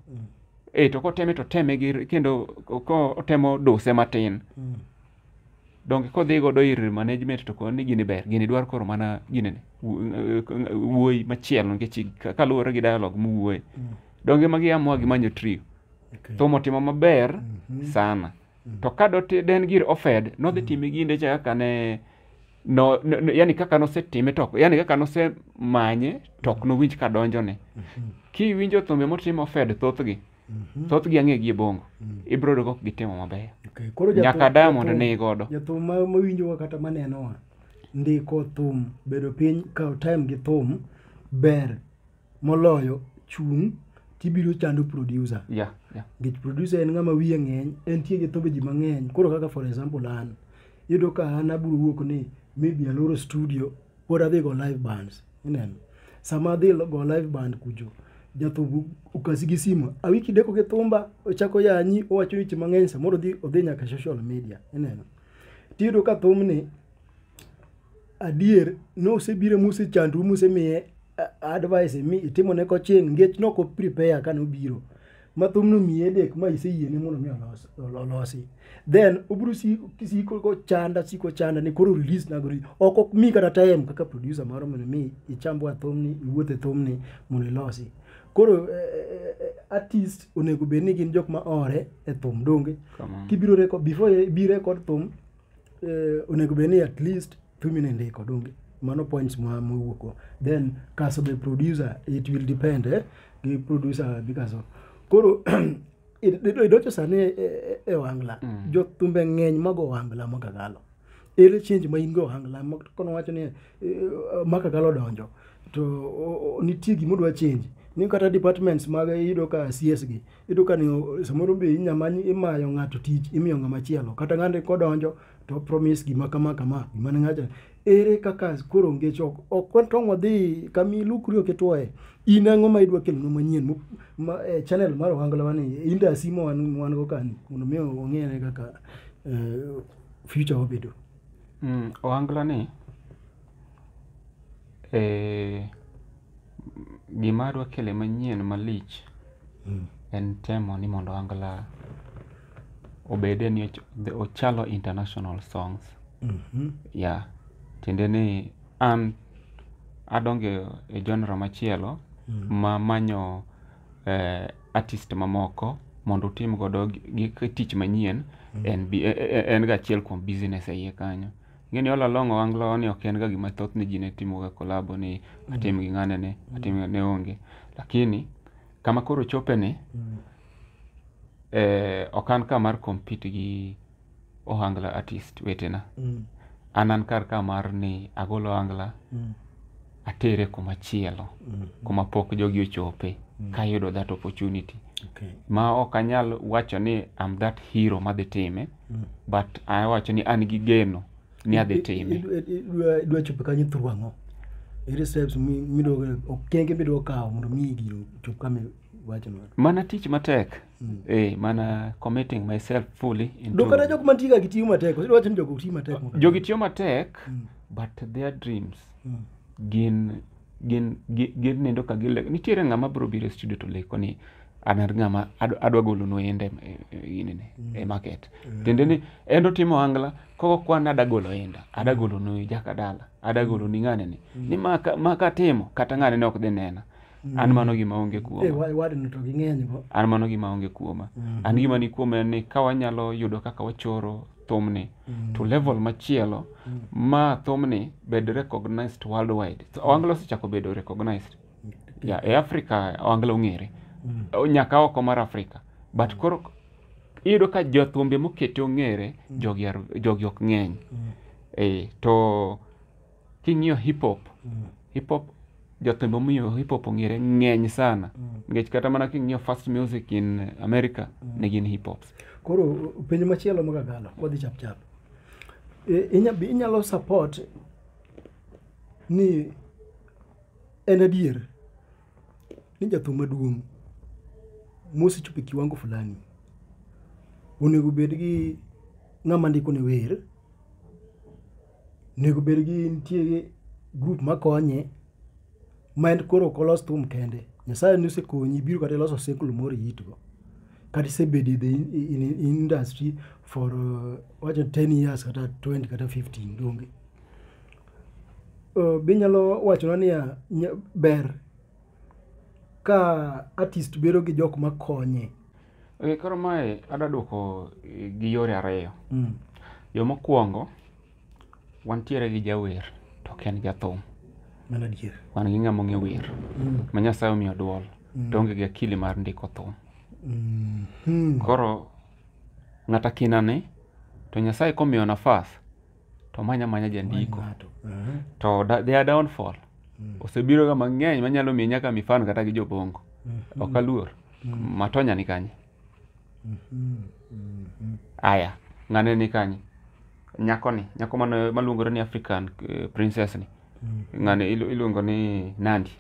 B: e to koteme to teme gi kendo kotemo duse matin mm. donge kodhi godo ir management to koni gini ber gini dwar koro mana gini ne wuoyi machielo nikech kaluwore gi dialog muwuoye mm. donge magi amwa gi manyo trio okay. thomo timo maber mm -hmm. sana Mm. To ka doti den gir ofed, nodhi mm. time ginde cha kaka ne no, no, no yani kaka nosetime to yani kaka nosemanye to ok mm. nowinj ka donjone. Mm-hmm. Kiwinjo thumbe motimo ofed thothgi, Mm-hmm. thoth gi ang'e gi e bongo mm. ibro yudo kok gitimo mabeyo okay. nyaka
A: diamond ni
B: godo jathum mawinjowa
A: kata manenowa ndiko thum bedo piny kawo time gi thum ber moloyo chung' tibiro chando producer yeah, yeah. nikech producer en ng'ama wiye ng'eny entie gi thumbe ji mang'eny koro kaka for example an iyudo ka an abiro wuok ni maybe aloro studio pod adhi go live bands ineno sama adhi go live band kucho jathumbu okasi gi simu awiki deko gi thumba ochako yanyi owacho weche mang'eny samoro odhi nyaka social media ineno tiyudo ka thumni adier nosebire mosechandru mosemiye advice mi itimone koching ngech noko prepare kane obiro ma thumno miye dek ma iseyiene mondo mi olos- olosi then obiro si- siko kochanda siko chanda ni koro release na gori ok ok mi kata time kaka producer moro mondo mi ichambwa thumni iwuoth e thumni mondo ilosi koro eh, eh, eh, artist onego bed ni gin jok ma ore e thum donge Kamano. kibiro record before ibi record thum eh, onego bed ni at least female ndiko donge mano points ma mowuoko then kaso be producer it will depend eh, gi producer gi kaso koro idocho sani e, e, e wangla mm. jothumbe ng'eny mago wangla makagalo ere change ma in go wangla kono wacho ni e, makagalo donjo to nitie gimodwa change ni kata departments mag yudo ka cs gi iyudo ka ni samoro be inya manyi imayo ng'ato tich imiyo ng'ama chielo kata ng'ani kodonjo to promise gima kama kama gima ne ng'acha ere kaka koro ngech ok ok watong' wadhi kama ilukri ok itwoye in ang'o ma idwa kelonwa manyien mo- ma, eh, channel mar ohangla wani indasi ma wan wan go kani mondo mi ong'ere kaka eh, future wabedo Mm,
B: ohangla ni Ee, gima dwa kele manyien malich Mm. en temo ni mondo angla obede ni och- the- ochalo international songs Mhm. ya tiende ni an adonge e genre machielo Mm. ma manyo eh, artist mamoko mondo utim godo gi- gi tich manyien en, bi- e- e- en ga achiel kuom business e iye kanyo ng'eni all along owanglo ni ok en ga gima thoth ni ji ne timo ga kolabo ni atim gi ng'ane ni atim ne onge lakini kama koro chope ni eh, ok an ka mar compete gi ohangla artist wetena an an kar ka mar ni agolo ohangla atere kuma chielo mm. kuma pok jogi ochope mm. kayudo that opportunity okay. ma ok anyal wacho ni am that hero madhi time mm. but awacho ni an gi geno ni adhi time idwa chopo
A: kanyo through ang'o ere steps midogo okenge midogo kawo mondo mi gino chop kama iwachono mana tich matek
B: mm. eh, mana committing myself fully into... dokata jok mantiga gitiyo
A: matek osewacho ni jogo tiyo matek jogi tiyo matek
B: mm. but their dreams gin gin gin nindo ka gile nitiere ng'ama bro biro e studio to leko ni an er ng'ama adwa golo no ende ini ne e mm. market mm. tende ni endo timo angla koko kwa na dagolo enda adagolo no jaka dala adagolo ni ngane ni mm. ni maka maka timo kata ngane ne ok de nena an mano gima onge kuoma eh, an mano gima onge kuoma an gima ni kuoma en ni ka wanyalo yudo kaka wachoro thumni mm. to level machielo mm. ma thumni bed recognized worldwide so, oanglo osechako bedo recognized okay. yeah, e africa oanglo ong'ere mm. nyaka oko mar africa but mm. koro iyudo ka jothumbe mokete ong'ere mm. jogi, jogi ok ng'eny mm. e, to king'iyo hip hop hip hop jothumbe momiyo hip hop ong'ere ng'eny sana nikech kata mana king'iyo fast music in america ne gin hip hops koro penjo
A: machielo magagalo wadhi chap chap E, inya- be inyalo support ni en adier ni jathum maduong' mosechopo e kiwango fulani onego bed gi ng'ama ndiko ne wer Nego bed gi nitie gi grup makonye ma en koro ok olos thum kende. Nyasaye ne osekonyi ibiro kata iloso oseklo moro iitgo. Kata isebedo in, in, in industry for uh, wacho 10 years kata 20 kata 15 donge. Uh, be inyalo wachona niya nya- ber ka artist bedo gi jok makonye Okay, koro
B: mae adwa duoko eh, gi yore ariyo. Mm. Yo mokwongo, wantiere gi jawer to ok en jathum. Mano adier.
A: Wan gi ng'ama ong'e wer
B: Mm. ma Nyasaye omiyo dwol to onge gi akili mar ndiko thum. Mm. Mm. Koro ng'ata kinani to Nyasaye komiyo nafas to manya manya jandiko Ng'ato. Mhm. to da, their downfall osebiro ga mang'eny manyalo miye nyaka mifano kata gi jobongo ok aluor matonya ni kanye aya ng'ane ni kanye nyakoni nyako mane- maluongore ni african eh, princess ni ng'ane ilu- iluongo ni nandi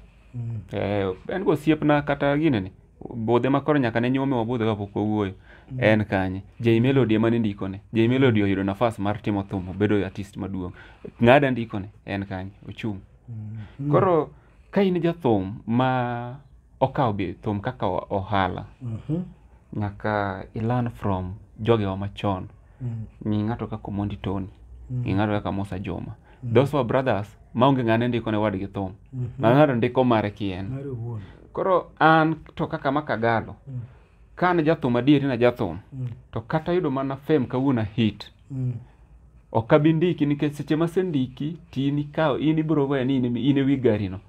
B: Eh, en go osiepna kata gine ni budhe ma koro nyaka ne nyuome wabudhe kapok wawuoyo mm. en kanye Jay Melody ema ne ndikone Jay Melody oyudo nafas mar timo thum obedo artist maduong' ng'ada ndikone en kanye ochung' mm. koro ka in jathum ma okawo bi thum kaka ohala mm-hmm. nyaka ilan from jogewa machon mm. ng'i ng'ato kaka Omondi Tony ng'i ng'ato kaka Musa Juma Mm. Those were brothers maonge ng'ane ndiko ne wadgi thum. Mm -hmm. Na ng'ado ndiko mare kien. Mare wuon. Koro an to kaka makagalo. Mm. Kan jathum adieri na jathum. Mm. To kata yudo mana fame kawuono hit. Mm. Ok abi ndiki nikech seche masendiki tini kao in ibiro weye ni in e wi garino.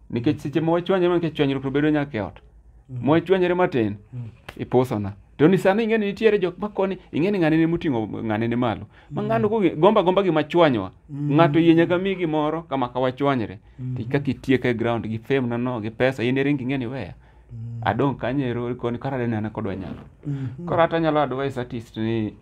B: nikech seche ma wachwanyore nikech chwanyruok to bedo nyaka e ot ma wachwanyore matin ipusona to ni sani ing'e ni nitiere jok makoni ing'e ni ng'ane ne moting'o ng'ane ne malo ma ng'ano kong'e- gomba gomba gima chwanywa ng'ato yie nyaka mi gimoro kama ka wachwanyre to kaka itieko e ground gi fame na no gi pesa in eringi ing'e ni weya adong' kanye ero koni kara dene an kodwa nyalo koro ata nyalo advice artist ni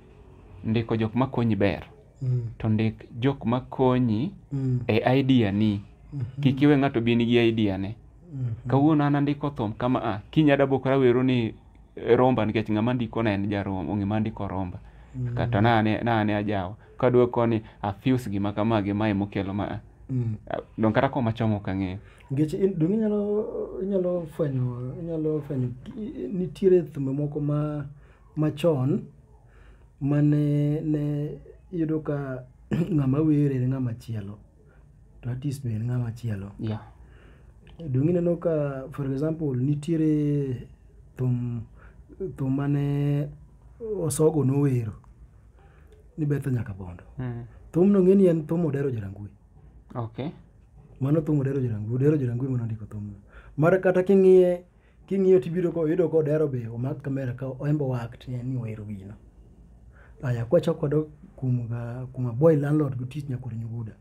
B: ndiko jok makonyi ber Mm. to ndik jok ma konyi Mm. e idea ni Mhm. kik iwe ng'ato bi nigi idea ne Mhm. kawuono an andiko thum kama a kiny adabokora wero ni eh, romba nikech ng'ama ndiko na en jaromba ong'e ma ndiko romba Mm. kata nane nane ajawa kadwa koni afuse gima kama gima emokelo ma a. Mm. Ah, don kata koma chomo ok ang'eyo Nikech in- donge inyalo
A: inyalo fwenyo inyalo fwenyo i- i- nitiere thumbe moko ma machon mane ne iyudo ka ng'ama wero en ng'ama chielo to artist be en ng'ama chielo yeah. donge ineno ka for example nitiere thum thum mane osogo nowero ni betha nyaka bondo mm. thum no ng'eni en thum odero jarangui okay.
B: mano thum
A: odero jarangui odero jarangui mano ndiko thumno mar kata king'iye king'iyo tibiro ko yudo ko dero be omak kamera ka oembo wakt ni wero gino aya kwachako kodok kuom ga- kuom boy landlord go tich nyakor nyuguda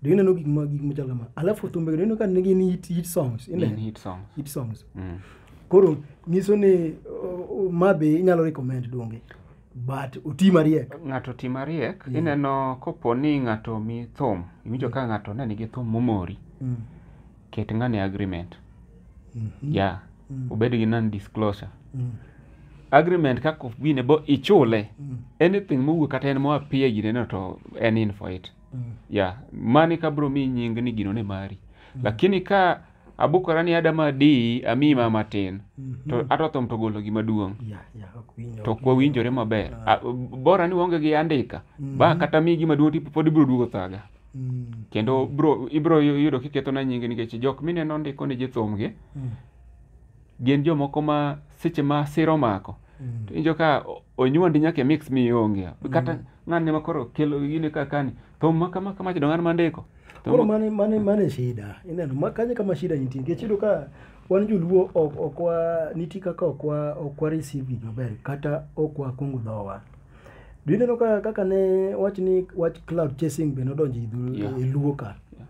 A: do ineno gik ma gik machal kama alafu thumbe go ineno ka nigi ni hit, hit songs In ine hit songs. hit songs Mm. koro nyiso ni uh, uh, ma be inyalo recommend donge but oti mariek ng'ato ti mariek
B: Yeah. ineno kopo ni ng'ato mi thum iwinjo ka ng'ato ne nigi thum momori mm. ket ng'ane agreement ya obed gi non disclosure agreement kaka wine bo ichule anything mowuok kata en moa pia gineno to en in for it ya mani ka bro mi nying ni gino ne mari lakini ka abukora ni adama di ami ma matin to atothom to golo gima duong' ya ya ok winjo to kwa winjore maber A- bora ni waonge gi andika ba kata mi gima duong' tipo pod ibiro duogo thaga Mm. kendo bro ibro yu- yudo kiketo na nyingi nikech jok mineno ndiko ni jithumgi Mm. gin jomoko ma seche ma siro mako Mm. to injo ka o- onywandi nyaka e mix mi onge kata ng'ani ma koro kelo gine ka kani thum ma kama kama chido ng'an ma ndiko Thum koro ma- mane mane
A: mane shida ineno ma kanye kama shida nitie nikech iyudo ka wan joluo ok ok wa nitie kaka ok wa ok wa receive gik maber kata ok wa kungu dhowa Do you know ka kaka ne wach ni wach cloud chasing be nodonjo e dhu- Yeah. e luo ka Yeah.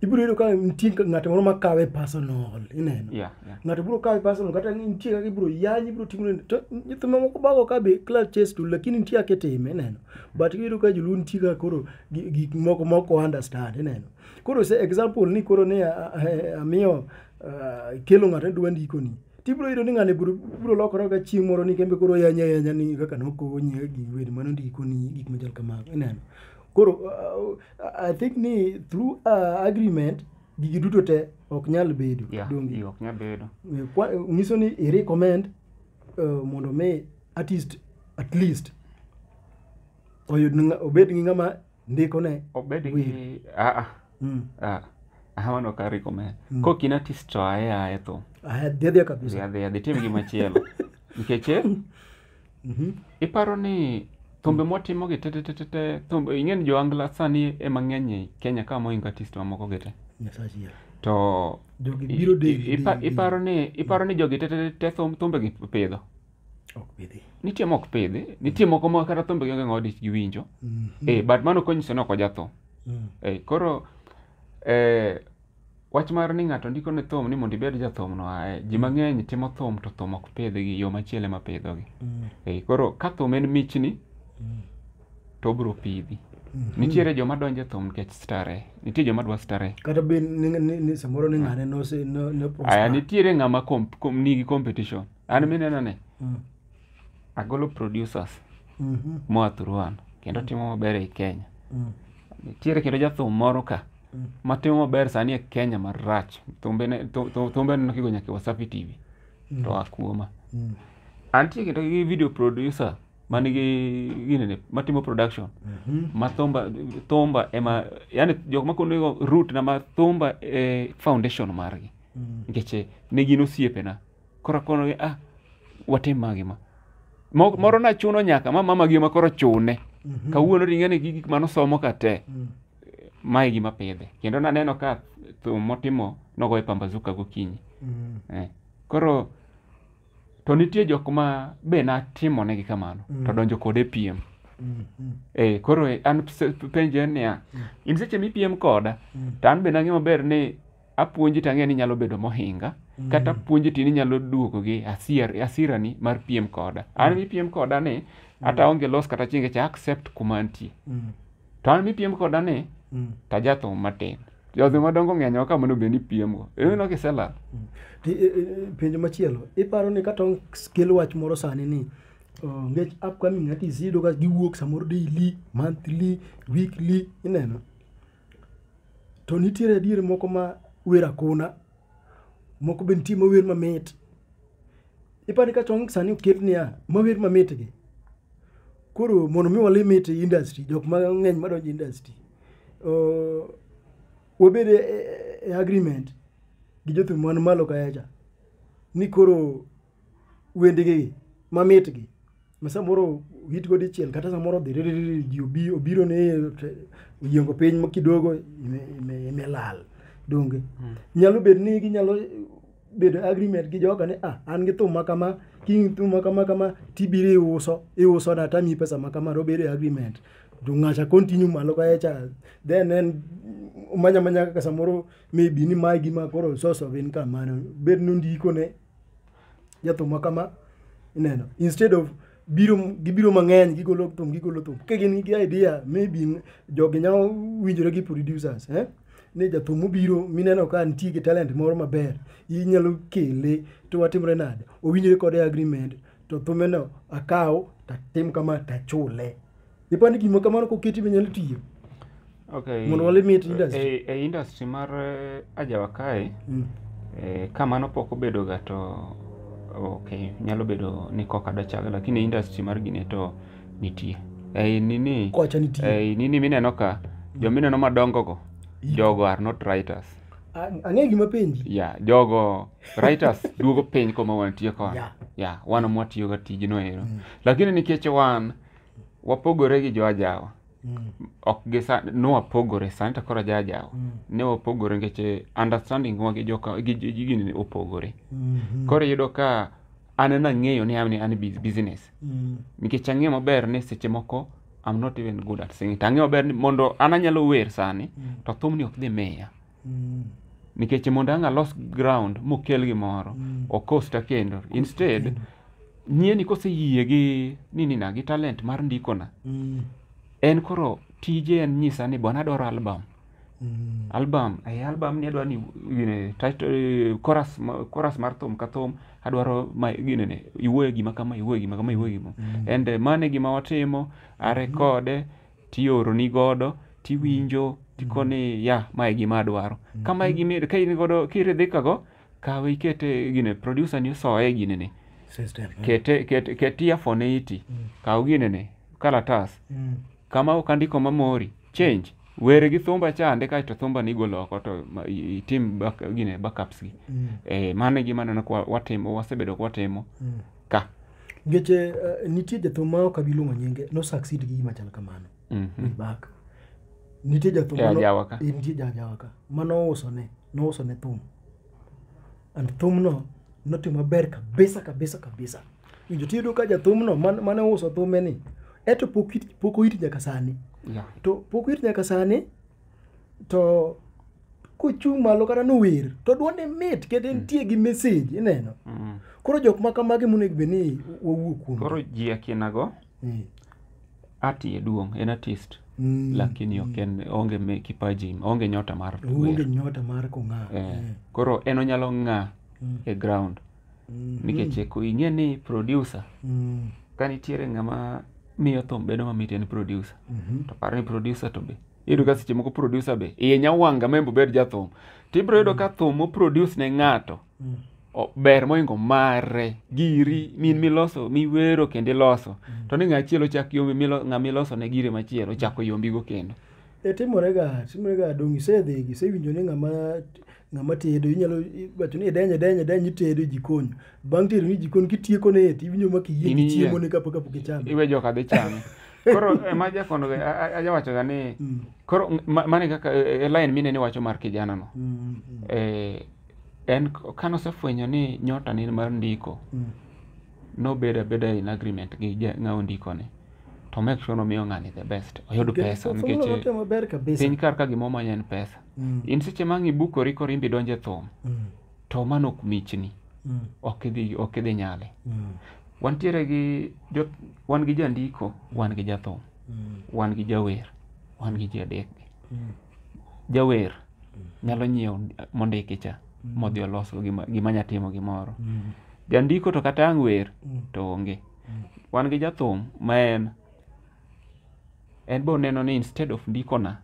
A: ibiro yudo ka nitie ka- ng'ato moro makawe personal ineno Yeah, yeah. ng'ato biro kawe personal kata ni nitie kaka ibiro yanyi ibiro timo nini. to nyithindo mamoko bago ka be cloud chase to lakini nitie kaka itime ineno but iyudo ka joluo nitie kaka koro gi- gik moko moko understand ineno koro se example ni koro ne a- a- a- amiyo ah, ikelo ng'ato ni dwa ndikoni tibiro yudo ni ng'ani biro biro lokore ka chieng' moro ni kembe koro yanya yanya ni kaka nokonyi gi wer mano ndikoni gik machal kamago ineno koro uh, i think ni through uh, agreement gigi duto te ok nyal bedo Yeah, donge iyo, ok nyal bedo.
B: Eh, kwa- eh, nyiso ni
A: i recommend uh, mondo mi artist at least oyud nga- obed gi ng'ama ndiko ne obed gi Will.
B: aa mm. aa aha mano ka recommend Mm. kok in artist to aye aye thum aya dhia dhia dhi kabisa
A: adhi adhi tim gima chielo
B: nikech eh, Mhm. iparo ni thumbe motimo gi tetetetete thumbe ing'eni jo angla sani ema ng'eny e kenya ka moingo artist mamoko gi te nyasaye chier to jogi i- biro i-
A: deli ipa- deli, iparo
B: ni iparo ni jogi tetetete thum- thumbegi pidho ok
A: bidhi nitie mok pidhi
B: nitie moko ma kata thumbe gionge ng'awa dich giwinjo eh, but mano konyiso ni ok ojatho Mm. eh, koro eh, wach mar ni ng'ato ndiko ne thum ni mondo ibed jathum no ae ji mang'eny timo thum to thum ok pidhgi yo machielo ema pidhogi Mm. eh, koro ka thum en michni Mm. to obiro pidhi Mhm. nitiere joma donjo e thum nikech stare nitie joma dwa stare kata be ni- ni-
A: ni- samoro ni ng'ane nose no- no aya prosper. nitiere
B: ng'ama kom- kom- nigi competition an mineno ni Mm. agolo producers Mhm. moa thuruan kendo timo maber ei kenya Mm. nitiere kendo jathum moro ka Mm. matimo maber sani e kenya marach thumbene thu- thu- thumbene nokigo nyaka e wasafi tv to oa kuoma Mm. antie kendo gi video producer manigi ginene matimo production Mhm. ma thumba thumba ema yani jok makonego root na ma thumba e foundation margi Mm. nikech eh, ne gin osiepena koro kono gi ah watim magi ma Mo- moro na chuno nyaka ma mama gi ma koro chune Mhm. kawuono ringe ni gi gik mano somo ka te Mm. mae gima pidhe kendo naneno ka thum motimo nogoye pambazuka gokinyi Mm. eh. koro to nitie jok ma be natimonegi kamano Mm. to donjo kode piem Mm. Mm. eh, koro eh, an se- penjo en niya in seche mipiem koda Mm. to an be nang'e maber ni apuonji to ang'eyo ni inyalo bedo mohinga kata apuonji to in inyalo duogo gi asier, asirani mar piem koda an mipiem koda ni ata onge los kata chienge cha accept kuma antie Mm. to an mipiem koda ni Mm. to ajathum matin jodhi madongo ng'eny ok kamano bende ipiemgo ineno kiselal Ti- e- e-
A: penjo machielo iparo ni kata kel wach moro sani ni uh, ngech upcoming artists iyudo ka giwuok samoro daily monthly weekly ineno to nitiere adier moko ma wer akona moko be nitie mawer mamit ipani ka chong sani oket niya mawer mamit gi koro mondo mi wale mit e industry jok mang'eny madonjo e industry uh, wabed e, e, e agreement gi jothum man malo kaecha ni koro wendegi mamitgi ma samoro hitgo dichiel kata samoro odhi ririri ji obi obiro ne te- oyiengo piny ma kidogo ime- ime- imelal donge nyalo bed ni ginyalo bedo agreement gi joga ni ah an gi thum ma kama king thum ma kama kama tibiro iuso iuso na tami pesa ma kama robedo agreement to ng'acha continue malo kae cha then en manya manya kaka samoro maybe ni mae gima koro source of income mano bed ni ondikone jathumwa kama ineno instead of biro gibiro mang'eny gigolo thum gigolo thum ka gin gi idea maybe jogi nyalo winjore gi producers eh? ni jathum obiro mineno ka nitie gi talent moro maber inyalo kele to watimre nade owinjore kode agreement to thumeno akaw tatim kama tachule ipani gima kamano koketi minyalo tiyo okay. mondo walimit industry e, e industry mar
B: eh, ajawa kae mm. e, ka mano pok obedo ga to okay nyalo bedo ni koka dachaga lakini e industry mar gine to nitie ei nini kocha nitie ei
A: nini mineno ka
B: mm. jo mineno madongo go jogo are not writers ang'e gima
A: penji ya yeah, jogo writers
B: duogo piny koma wantie koni yeah. yeah, wan mwatiyoga tijno ero mm. lakini nikech wan wapogore gi joajawa Mm. ok gi sa- ne wapogore sani to koro ajajawa Mm. ne wapogore nikech eh, understanding wa gi joka gi gi- gi gini ne opogore Mhm. koro iyudo ka an ena ng'eyo ni an an bus- business Mm. nikech ang'eyo maber ni seche moko I'm not even good at singing to ang'eyo maber ni mondo an anyalo wer sani Mm. to thumni ok dhi miya Mm. nikech mondo ang' alos ground mokel gimoro Mm. okosta kendo instead kendo. nyieni koseyie gi ninina gi talent mar ndikona Mm. en koro tije en nyisa ni bwana adwaro album Mm. album eh, album ni adwaro ni gine, title, eh, chorus, ma- chorus mar thum ka thum adwaro ma gine ne iwuoye gima kama iwuoye gima kama iwuoye gima Mm. and eh, mano e gima watimo arekode tioroni godo tiwinjo tikoni ya mae gima adwaro ka mae gima ka in godo kiridhikago kawe ikete gine producer ni soye ginene System. eh. kete kete ket earphone e iti kaw ginene kalatas Mm. kama ok andiko mamori change were gi thumba chande kaeto thumba ni igolo oko to ma- i- itim back, gine backups gi Mm. eh, mano e gima aneno kwa watimo wasebedo kwatimo Mm. ka nikech eh,
A: nitie jathum ma ok abi luongo nyinge nosucceed gi gima chal kamano Mhm. way back nitie jathum E mano- ajawa ka. eh, nitie jajawa ka ma nouso ne nouso ne thum and thumno notimo maber kabisa kabisa kabisa winjo tiyudo ka jathumno man- mane ouso thumeni eto pok it- pok oiti nyaka sani Yeah. to pok oiti nyaka sani to kochung' malo kata nower to dwonde mit kendo entie gi message ineno Mm. koro jok ma kamagi monego bed ni wawuo kuom koro ji akinago
B: Mm. ati e duong' en artist Mm. lakini ok en onge me kipaji onge nyota mar onge wer nyota mar
A: kong'aw Eh, koro
B: en onyalo ng'a e ground nikech ko ing'e ni producer Mm. ka nitiere ng'ama miyo thum bedo mamit en producer Mhm. to par ni producer to be iyudo ka seche moko producer be iye nyawanga ma en be obed jathum to ibiro yudo ka thum moproduce ne ng'ato Mm. o- ber moingo mare giri min miloso miwero kendo iloso to ni ng'achielo chak yombi milo- ng'ama iloso ne gire machielo chako yombigo kendo E timorega
A: timorega donge isedhi isewinjo ni ng'ama ng'ama tedo inyalo i- wacho ni denye denye denye itedo e jikon bang' tedo ni jikon kitieko ne eti iwinjo ma kiyie Iniyieng'. chiemo ne kapok kapok ichame iwe joka dhi chame
B: koro ema jakondo ga- a- a- ajawachoga ni Mm, koro ng- ma- mane kaka e- e- e line mine ni wacho mar kijana no mm, mm, eh, en k- kanosefwenyo ni nyota ni mar ndiko mm, nobed abeda in agreement gi ja- ng'awo ndikone to make sure nomiyo ng'ani the best oyud Okay, pesa so nikech mano otimo maber kabisa. piny kar ka gima omanya en pesa Mm, in seche ma ang' ibukori koro imbe idonje thum mm, to mano ok michni mm, ok idhi ok idhi nyale mm, wantiere gi jo, wan gi jandiko wan gi jathum mm, wan gi jawer wan gi jadekgi mm. jawer nyalo nyiewo mondiki cha modhi oloso gima, gima nya timo gimoro jandiko to kata ang' wer to onge wan gi jathum ma en en be oneno ni instead of ndikona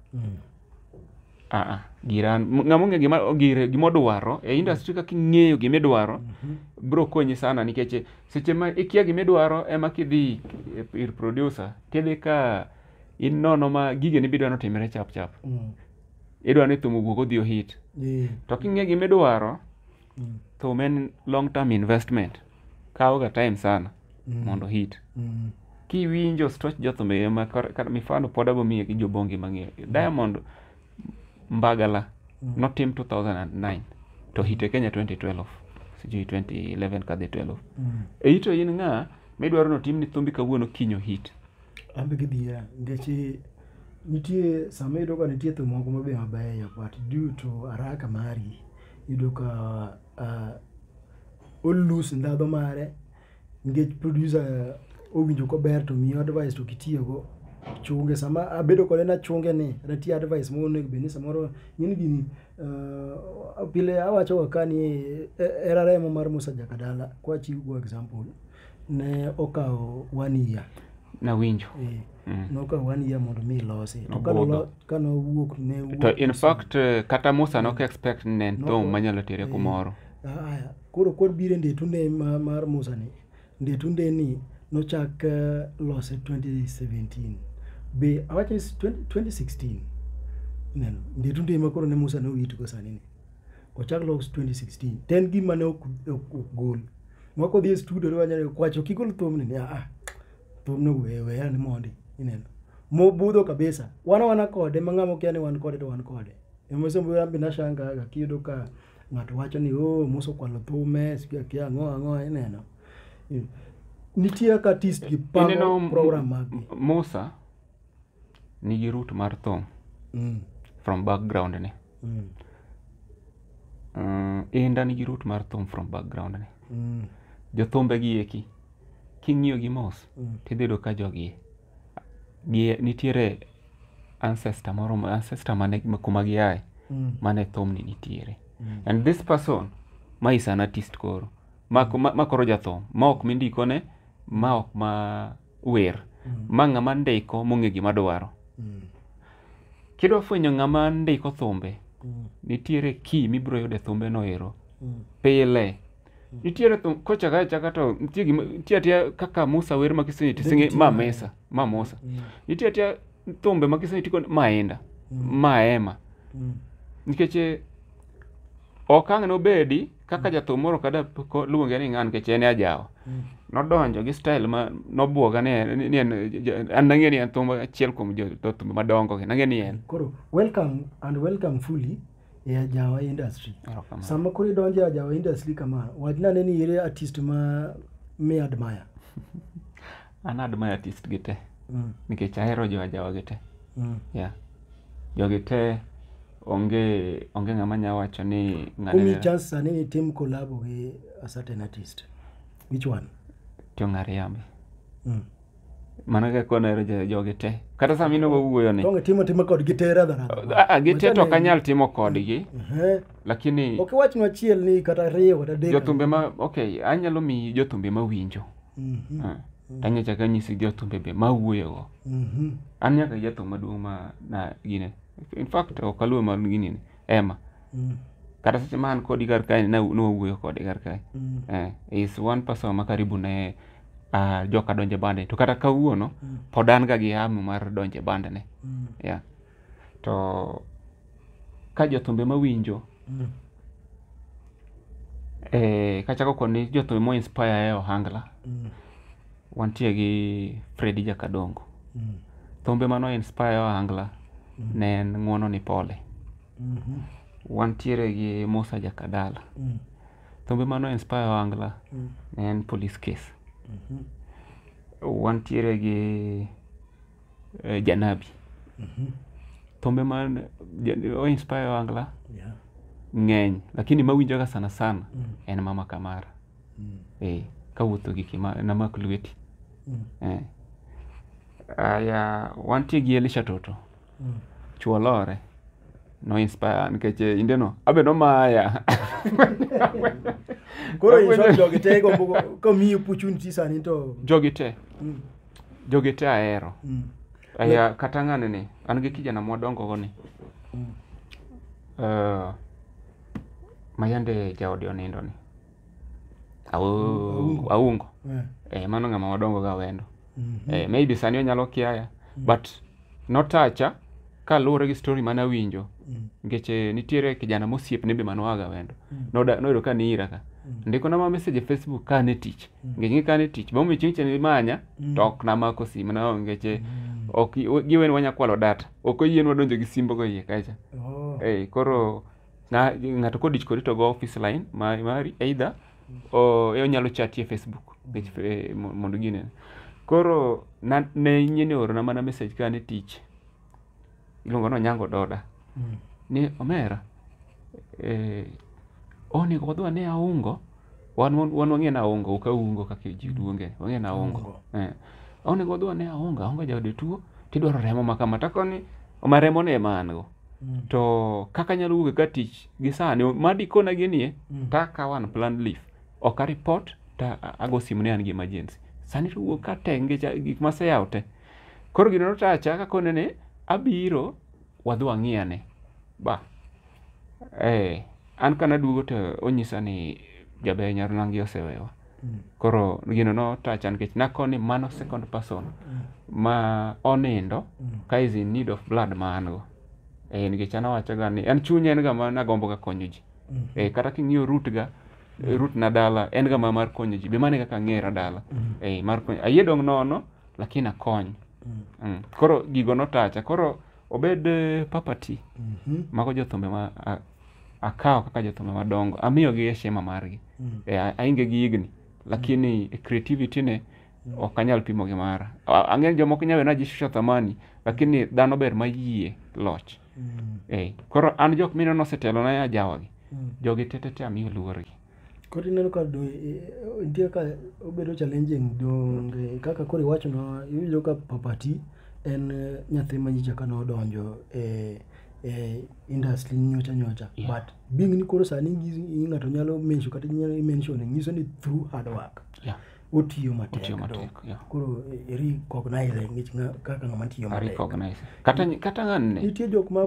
B: aa giran ng'ama ong'e gima gire gima odwaro e industry kaka ing'eyo gima idwaro bro konyi sana nikech seche ma ikia gima idwaro ema kidhi ir producer tidhi ka inono ma gigeni bidwa notimre chap chap idwa ni thum owuog odhi ohit Eh, to king'e gima idwaro mm, thum en long term investment kawoga time sana mm, mondo hit mm, kiwinjo stoch jothumbe ma kar- kar- mifano pod abo miye gi jobongi mang'eyo diamond mbagala Mm. notim 2009 to hite kenya 2012 sijui 2011 kadhi 12 mm. eito in ng'a midwaro notim ni thumbi kawuono kinyo hit An be gidhiera
A: nikech nitie sama iyudo ka nitie thum moko mabe mabeyo but due to haraka mari iyudo ka uh, olus ndhadho mare nikech producer owinjo kober to miyo advice to kitiyogo chunge sama abedo kode nachunge ni natiyo advice moro onego bed ni samoro ng'eni gini uh, pile awachoga ka ni eh, era remo mar musa jakadala kwachiwgo example ne okawo one year nawinjo eh,
B: Mm. nokawo
A: one year mondo mi ilosi to Nobudho. kanolo- kanowuok ne wuok to in fact eh,
B: kata musa nok expect ni ne en No, thum no. manyalo tere Eh. kumoro aya koro
A: kod biro e ndetunde ma- mar musa ni ndetunde ni nochak eh, lose 2017 be awacho ni 20- 2016 ineno ndetunde ma koro ne musa ne owitgo sani ni Ochak Logs 2016. To en gima ne ok ok- ok gol. Mwa kodhi e studio riwa nyalo kwacho kigol thumni ni ah thumno we we an mondi ineno. Mobudho kabisa. Wana wana kode ma ng'amo kia ni wan kode to wan kode. Emo sombo yambi na shanga ga kiyudo ka ng'ato wacho ni oh muso kwalo thume sikia kia ang'o ang'o ineno. Nitie ka artist gi Ineno pango m- program mag m- Musa
B: nigi root mar thum Mm. from background ni Mm. Mm, inda nigi root mar thum from background ni Mm. jothumbe gi eki king'iyo gi mos Mm. tidhi yudo ka jogi gi nitiere ancestor moro ma- ancestor mane ma- kuma giaye Mm. mane thumni nitiere Mm. and this person ma is an artist koro ma, ma, ma koro jathum ma ok mindikone ma ok ma wer mm. ma ng'ama ndiko mong'e gima dwaro mm. kidwa fwenyo ng'ama ndiko thumbe mm. nitiere ki mibiro yude thumbe no ero mm. pile mm. nitiere thum kochaka achaka to nitie gima nitie atia kaka Musa wer ma kisenyi tisinge ma mesa ma Musa mm. nitie atia thumbe ma kisenyi tiko maenda mm. maema mm. nikech eh, okang' nobedi kaka jathum moro kada ko- luonge ni ng'an nikech en e ajawa nodonjo gi style ma nobwoga ni en- ni en ja- an nang'e ni en thum achiel kuom jo- to thum madongo gi nang'e ni en koro welcome
A: and welcome fully e ajawa industry Erokamano. sama koro idonjo e ajawa industry kama wachna ne ni ere artist ma mi admire
B: an admire artist gi te Mm. nikech ahero jo ajawa gi te Mm. yeah. jogi te onge onge ng'ama nya wacho ni ng'ane Kumi nera- chance sani
A: ni tim collabo gi a certain artist. Which one? to ng'ariambe
B: Mm. mano kaka onero jo- jogi te kata sama in wawuoyo ni Tonge timo timo kod gi tera
A: dhara. Ah, ah, gi te to ok anyal
B: timo kodgi Eh. lakini Ok wachnwa achiel
A: ni kata riyo kata dek. jothumbe ma okay
B: anyalo miyi jothumbe mawinjo Mhm. Eh, to anyalo chako anyisi jo thumbe be ma awuoyogo Mhm. an nyaka gi jathum maduong' ma na gine in fact ok aluwe mar gini ni ema Mhm. kata seche ma an kodi kar kae na- nwawuoyo kode kar kae Mhm. eh, is one person ma karibu ne uh, joka donje bande to kata kawuono pod an ga gi hamu mar donje bande ne Mhm. yeah. to ka jothumbe mawinjo Mm. eh, kachako kod ni jothumbe mo inspire e ohangla Mm. wantie gi fredi jakadongo Mm. thumbe mano inspire e ohangla ne en ng'uono ni pole Mhm. wantiere gi musa jakadala Mm. thumbe mano inspire e ohangla Mm. ne en police case Mhm. wantiere gi eh, janabi thumbe ma ja- o inspire wangla Yeah. ng'eny lakini mawinjoga sana sana en mama kamara eh, kawuotho gi kima namak lweti eh. aya wantie gi elisha toto chuo lore no inspire nikech eh, indeno abe nomaya
A: Koro in short jogi te gombo komiyi opportunity sani to jogi te
B: jogi te ahero mm. Aya, kata ng'ane ni an gi kijana mwadongo go ni mm. uh, mayande jaode onindo ni aungo, aungo. Yeah. Eh, mano ng'ama wadongo ga wendo mm -hmm. eh, maybe sani onyalo kiaya mm. but notacha kaluwore gi story mane awinjo mm. nikech eh, nitiere kijana mosiepne be manoaga wendo mm. noyudo ka niira ka mm. ndikona ma message e facebook ka ne tich nikech ng'e ka ne tich bomiyo chieng' cheni manya to ok namako sim na nikech eh, ok giweni wanya kwalo data ok oyienwa donjo gi simbogo iye kacha oh. eh, koro na ng'ato kodich kodi to go office line ma- mari either o- e onyalo chati e facebook nikech fe- mo- mondo ginene koro na- ne nyien oorona mana message ka ne tich iluongo ni onyango doda ni omera eh, onego wadhi wane aungo wan wan wan wang'e na aungo ok aungo kaka ji luonge wang'e na aungo Aungo. eh. onego wadhi wane aungo aungo jaode tuo tidwaro remo ma kama takoni ma remo ne ma an go Mm. to kaka anyalo wuok ka tich gi sani ma dikona ginie Mm. to akawo an plan leaf ok a report to a- ago simu ni an gi emergency sani to wuok ka tenge cha- gik maseyawo te koro gino notacha kakone ni abiro wadhi wang'iyane ba eh, an kanaduogo to onyisa ni jaber nyarunangi osewewa koro gino notacha nikech nakoni mano second person ma onindo ka is in need of blood ma an go eh, nikech an awachaga ni an chunya en ga ma nagomboga konyo ji eh, kata king'iyo root ga eh, root na dala en ga ma mar konyo ji be mane kaka ang'era dala eh, mar konyo ayie dong' nono lakini akony Mm. Koro gigo notacha. Koro obed eh, papati Mhm. mago jothumbe ma a- akawo kaka jothumbe madongo amiyogi heshima margi Mm. e, a- ainge gi higni lakini e creativity ne ok anyal pimo gi mara A- ang'eyo jomoko nyawe najishusha thamani lakini dhano ber mayie loch Mm. e, koro an jok mineno osetelona ajawagi Mm. jogi tetete amiyo luorgi Koro ineno ka do,
A: e, nitie ka obedo challenging donge kaka koro iwachono iwinjo ka papati en eh, nyathi ma nyicha ka nodonjo e e industry nyocha nyocha yeah. but being ni koro sani ng'ato nyalo mention kata nyalo mention nyiso ni through hard work yeah otiyo matek koro recognize ngech kaka ng'ama tiyo matek kata kata
B: ng'anne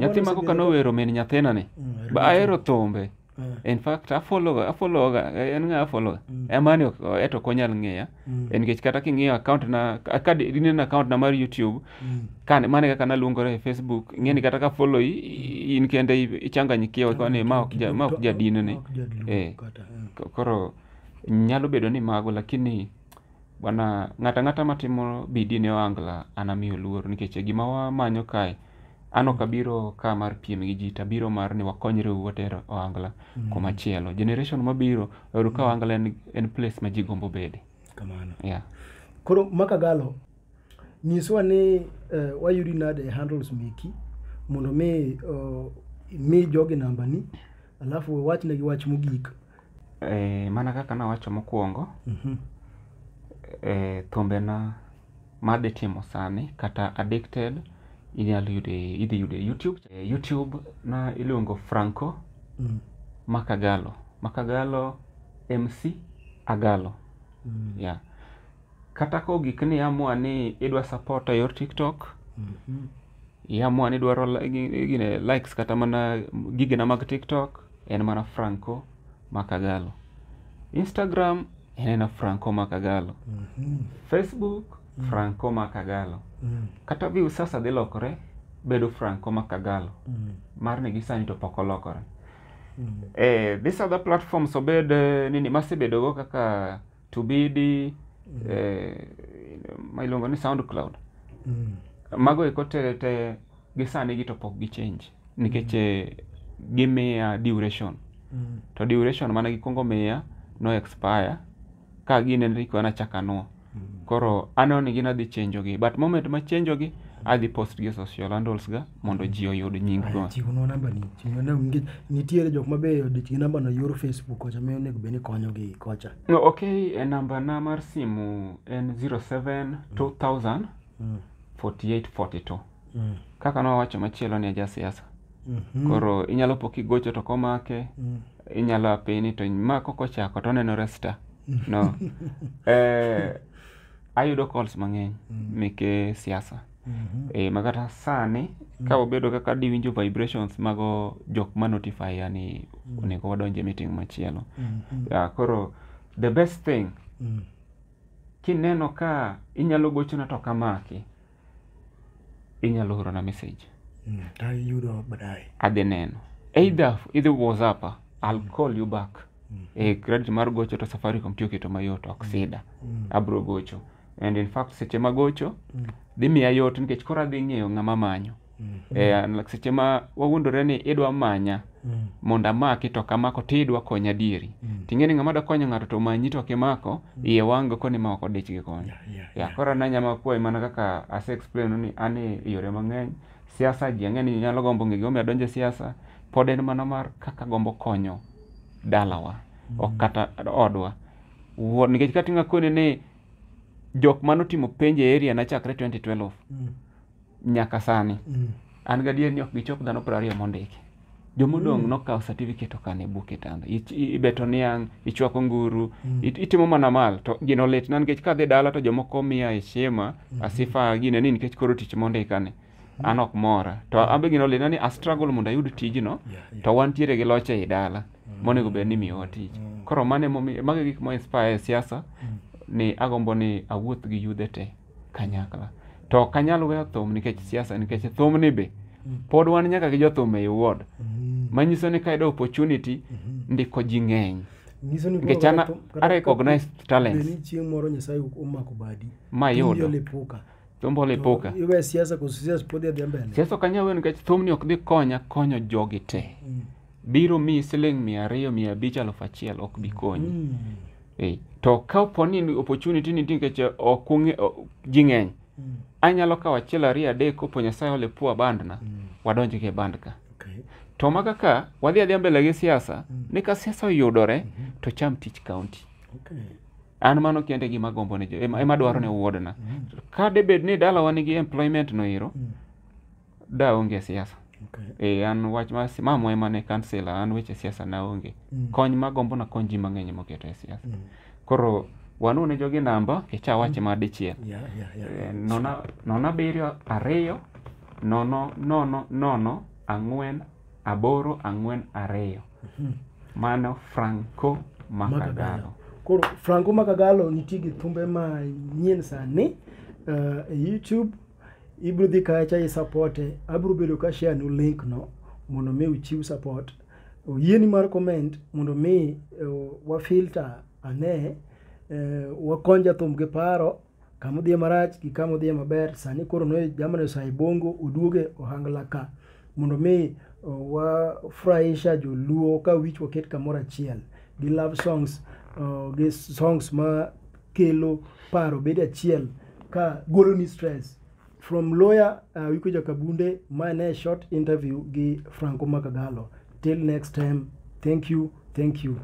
B: nyathi mago
A: ka nowero min
B: nyathina ni mm, ba ahero thumbe Eh. in fact afollow afollow ga en nga afollow ga mm. emani ok eto ok onyal ng'eya mm. en nikech kata king'iyo account na ka dineno account na mar youtube mm. kan mane kaka naluongore e facebook ing'e ni kata ka follow in kende ichanganyikiwa kwa ni ma ok ja ma ok jadinone eh, eh koro nyalo bedo ni mago lakini Bwana, ng'ato ang'ata matimo bidii ne ohangla anamiyo luor nikech e gima wamanyo kae an ok abiro ka mar piem gi ji to abiro mar ni wakonyre u water ohangla mm. kuma chielo generation mabiro oyudo ka ohangla en, en place ma ji gombo bede kamano yeah.
A: koro makagalo nyiswa ni uh, wayudi nade handles meki mondo mi uh, mi jogi nambani alafu wachnegi wach mogik Eh,
B: mana kaka nawacho mokwongo, Mhm. eh, thumbena madhi timo sani kata addicted inyalo yudo e- idhi yudo e youtube Eh, youtube na iluongo franco Mm. makagalo makagalo mc agalo Mm. yeah. kata ka ogik ni amua ni idwa support e yor tiktok Mhm. Iamua ni dwaro li- gi- gine likes kata mana gigena mag TikTok en mana Franco Makagalo. Instagram en ena Franco Makagalo. Facebook Franco Makagalo. Kata view sasa dhi lokore bedo Franco Makagalo. Mar ni gisani to pok olokore. Eh, these other platforms obed eh, nini masebedogo kaka tubidi eh, ma iluongo ni soundcloud Mm. mago eko te te gi sani gi to pok gi change nikech eh, gimiya duration Mm. to duration mane gikwongo miya no expire ka gine ni kwe nachakanwo koro aneno ni gin adhi change gi but moment ma change gi adhi post gi e social handles ga mondo ji oyud nying go chiwnwa namba ni chiwnwa
A: namba ni nikech nitiere jok ma be odich gi namba no yor facebook kocha miyo onego bed ni konyogi kocha No, okay e namba
B: na mar simu en 07 2000 Mm, 48 42 mm, kaka nowacho machielo ni aja siasa mhm, koro inyalo po kigocho to komake mm. inyalo apini to ma kokochako to onenore sta no eh, ayudo calls mang'eny meke siasa Mhm. e, ma kata sani ka obedo kaka diwinjo vibrations mago jok ma notify ya ni onego wadonje meeting machielo Mhm. ya koro the best thing Mm. kineno ka inyalo gochona to kamaki inyalo orona message Mm. Ta yudo
A: baadaye. adhi neno
B: either idhi whatsapp i'll call you back e credit mar gocho to safaricom tiyo keto mayot ok sida abro gocho and in fact seche magocho Mm. dhi miya yot nikech koro adhi ng'eyo ng'ama manyo Mm. Eh, and seche ma wawuondore ni idwa manya Mm. mondo amaki to kamako to idwa konya adieri Mm. ting'e ni ng'ama dwa konyo ng'ato to manyi to kimako iye wang'go koni ma ok odich gi konyo Yeah, yeah, ya yeah. koro an anyama kwayi mana kaka ase explain ni an e yore mang'eny siasa ji ang'e ni nyalo gombo ng'e gimomiyo adonje siasa pod en mana mar kaka gombo konyo dalawa ok kata odwa Wo- nikech kati ngakone ni jok mane otimo penj e area na chakre 2012 Mm. nyaka sani Mm. an gadier ni ok gichop dhano piero ariyo mondiki jomodong' nokawo certificate okane buk e tanda Ich- i- ibeto niang' ichwako nguru it- itimo mana mal to gino litna nikech kadhi dala to jomoko miya heshima asifa gine ni nikech koro tich mondikani an ok mora to an be gino lina ni a struggle mondo ayud tijno Yeah, yeah. to wantiere gi loch ei dala monego bed ni miyowa tich Mm. koro mane momi- mago e gik mo inspire e siasa ni agombo ni awuoth gi yudhe te kanyakla to ok anyal weyo thum nikech siasa nikech thumni be pod wan nyaka gi jothum ei ward Mm. manyiso ni kayudo opportunity ndiko ji ng'eny Nyiso ni koro Nikech an kata thum- kata- a recognize kata talents. bed ni chieng' moro Nyasaye
A: omako badi. mayudo Inyalo epuka.
B: Jombolo ipuka. Iwe siasa koso siasa
A: pod idhi mbele. Siasa ok anyal weyo nikech
B: thumni ok dhi konya konyo jogi te. Mm. Biro miyi siling mia ariyo, mia abich, aluf achiel ok bi konyi. Mm. Eh, to ka opo ni opportunity ni nitie nikech ok ung'e o- ji ng'eny, Mm. anyalo kawo achiel ariyo adek kopo Nyasaye ole pua bandna, Mm. wadonj gi band ka. Okay. To ma kaka wadhi adhiya mbele gi siasa, ni ka siasa oyudore to cham tich kaunti. Okay. an mano kende gima gombo ne ema ema dwaro ne wuodna mm. ka de bed ni dalawa nigi employment no iro mm. da onge siasa okay. e an wach ma mamo ema ne kansela an weche siasa na onge mm. kony ma gombo na kony ji mang'eny moketo e siasa mm. koro wanu ne jogi namba kicha wache mm. ma dichiel yeah, yeah, yeah, yeah. E, nona nona biriyo ariyo nono nono nono ang'wen aboro ang'wen ariyo mano franco makagalo koro franco
A: makagalo nitie gi thumbe manyien sani uh, e youtube ibiro dhi kacha i supporte abiro bedo ka share nu link no mondo mi uchiw support oyieni mar comment mondo mi uh, wafilter ane uh, wakony jathum gi paro kama odhiye marach gi kama odhiye maber sani koro ne jamani osaye bongo oduoge ohangla ka mondo mi uh, wafurahisha joluo ka wich waket kamoro achiel gi love songs uh, gi songs ma kelo paro bedo achiel ka golo ni stress from lawyer uh, wiko jakabunde ma ne short interview gi franco makagalo till next time thank you thank you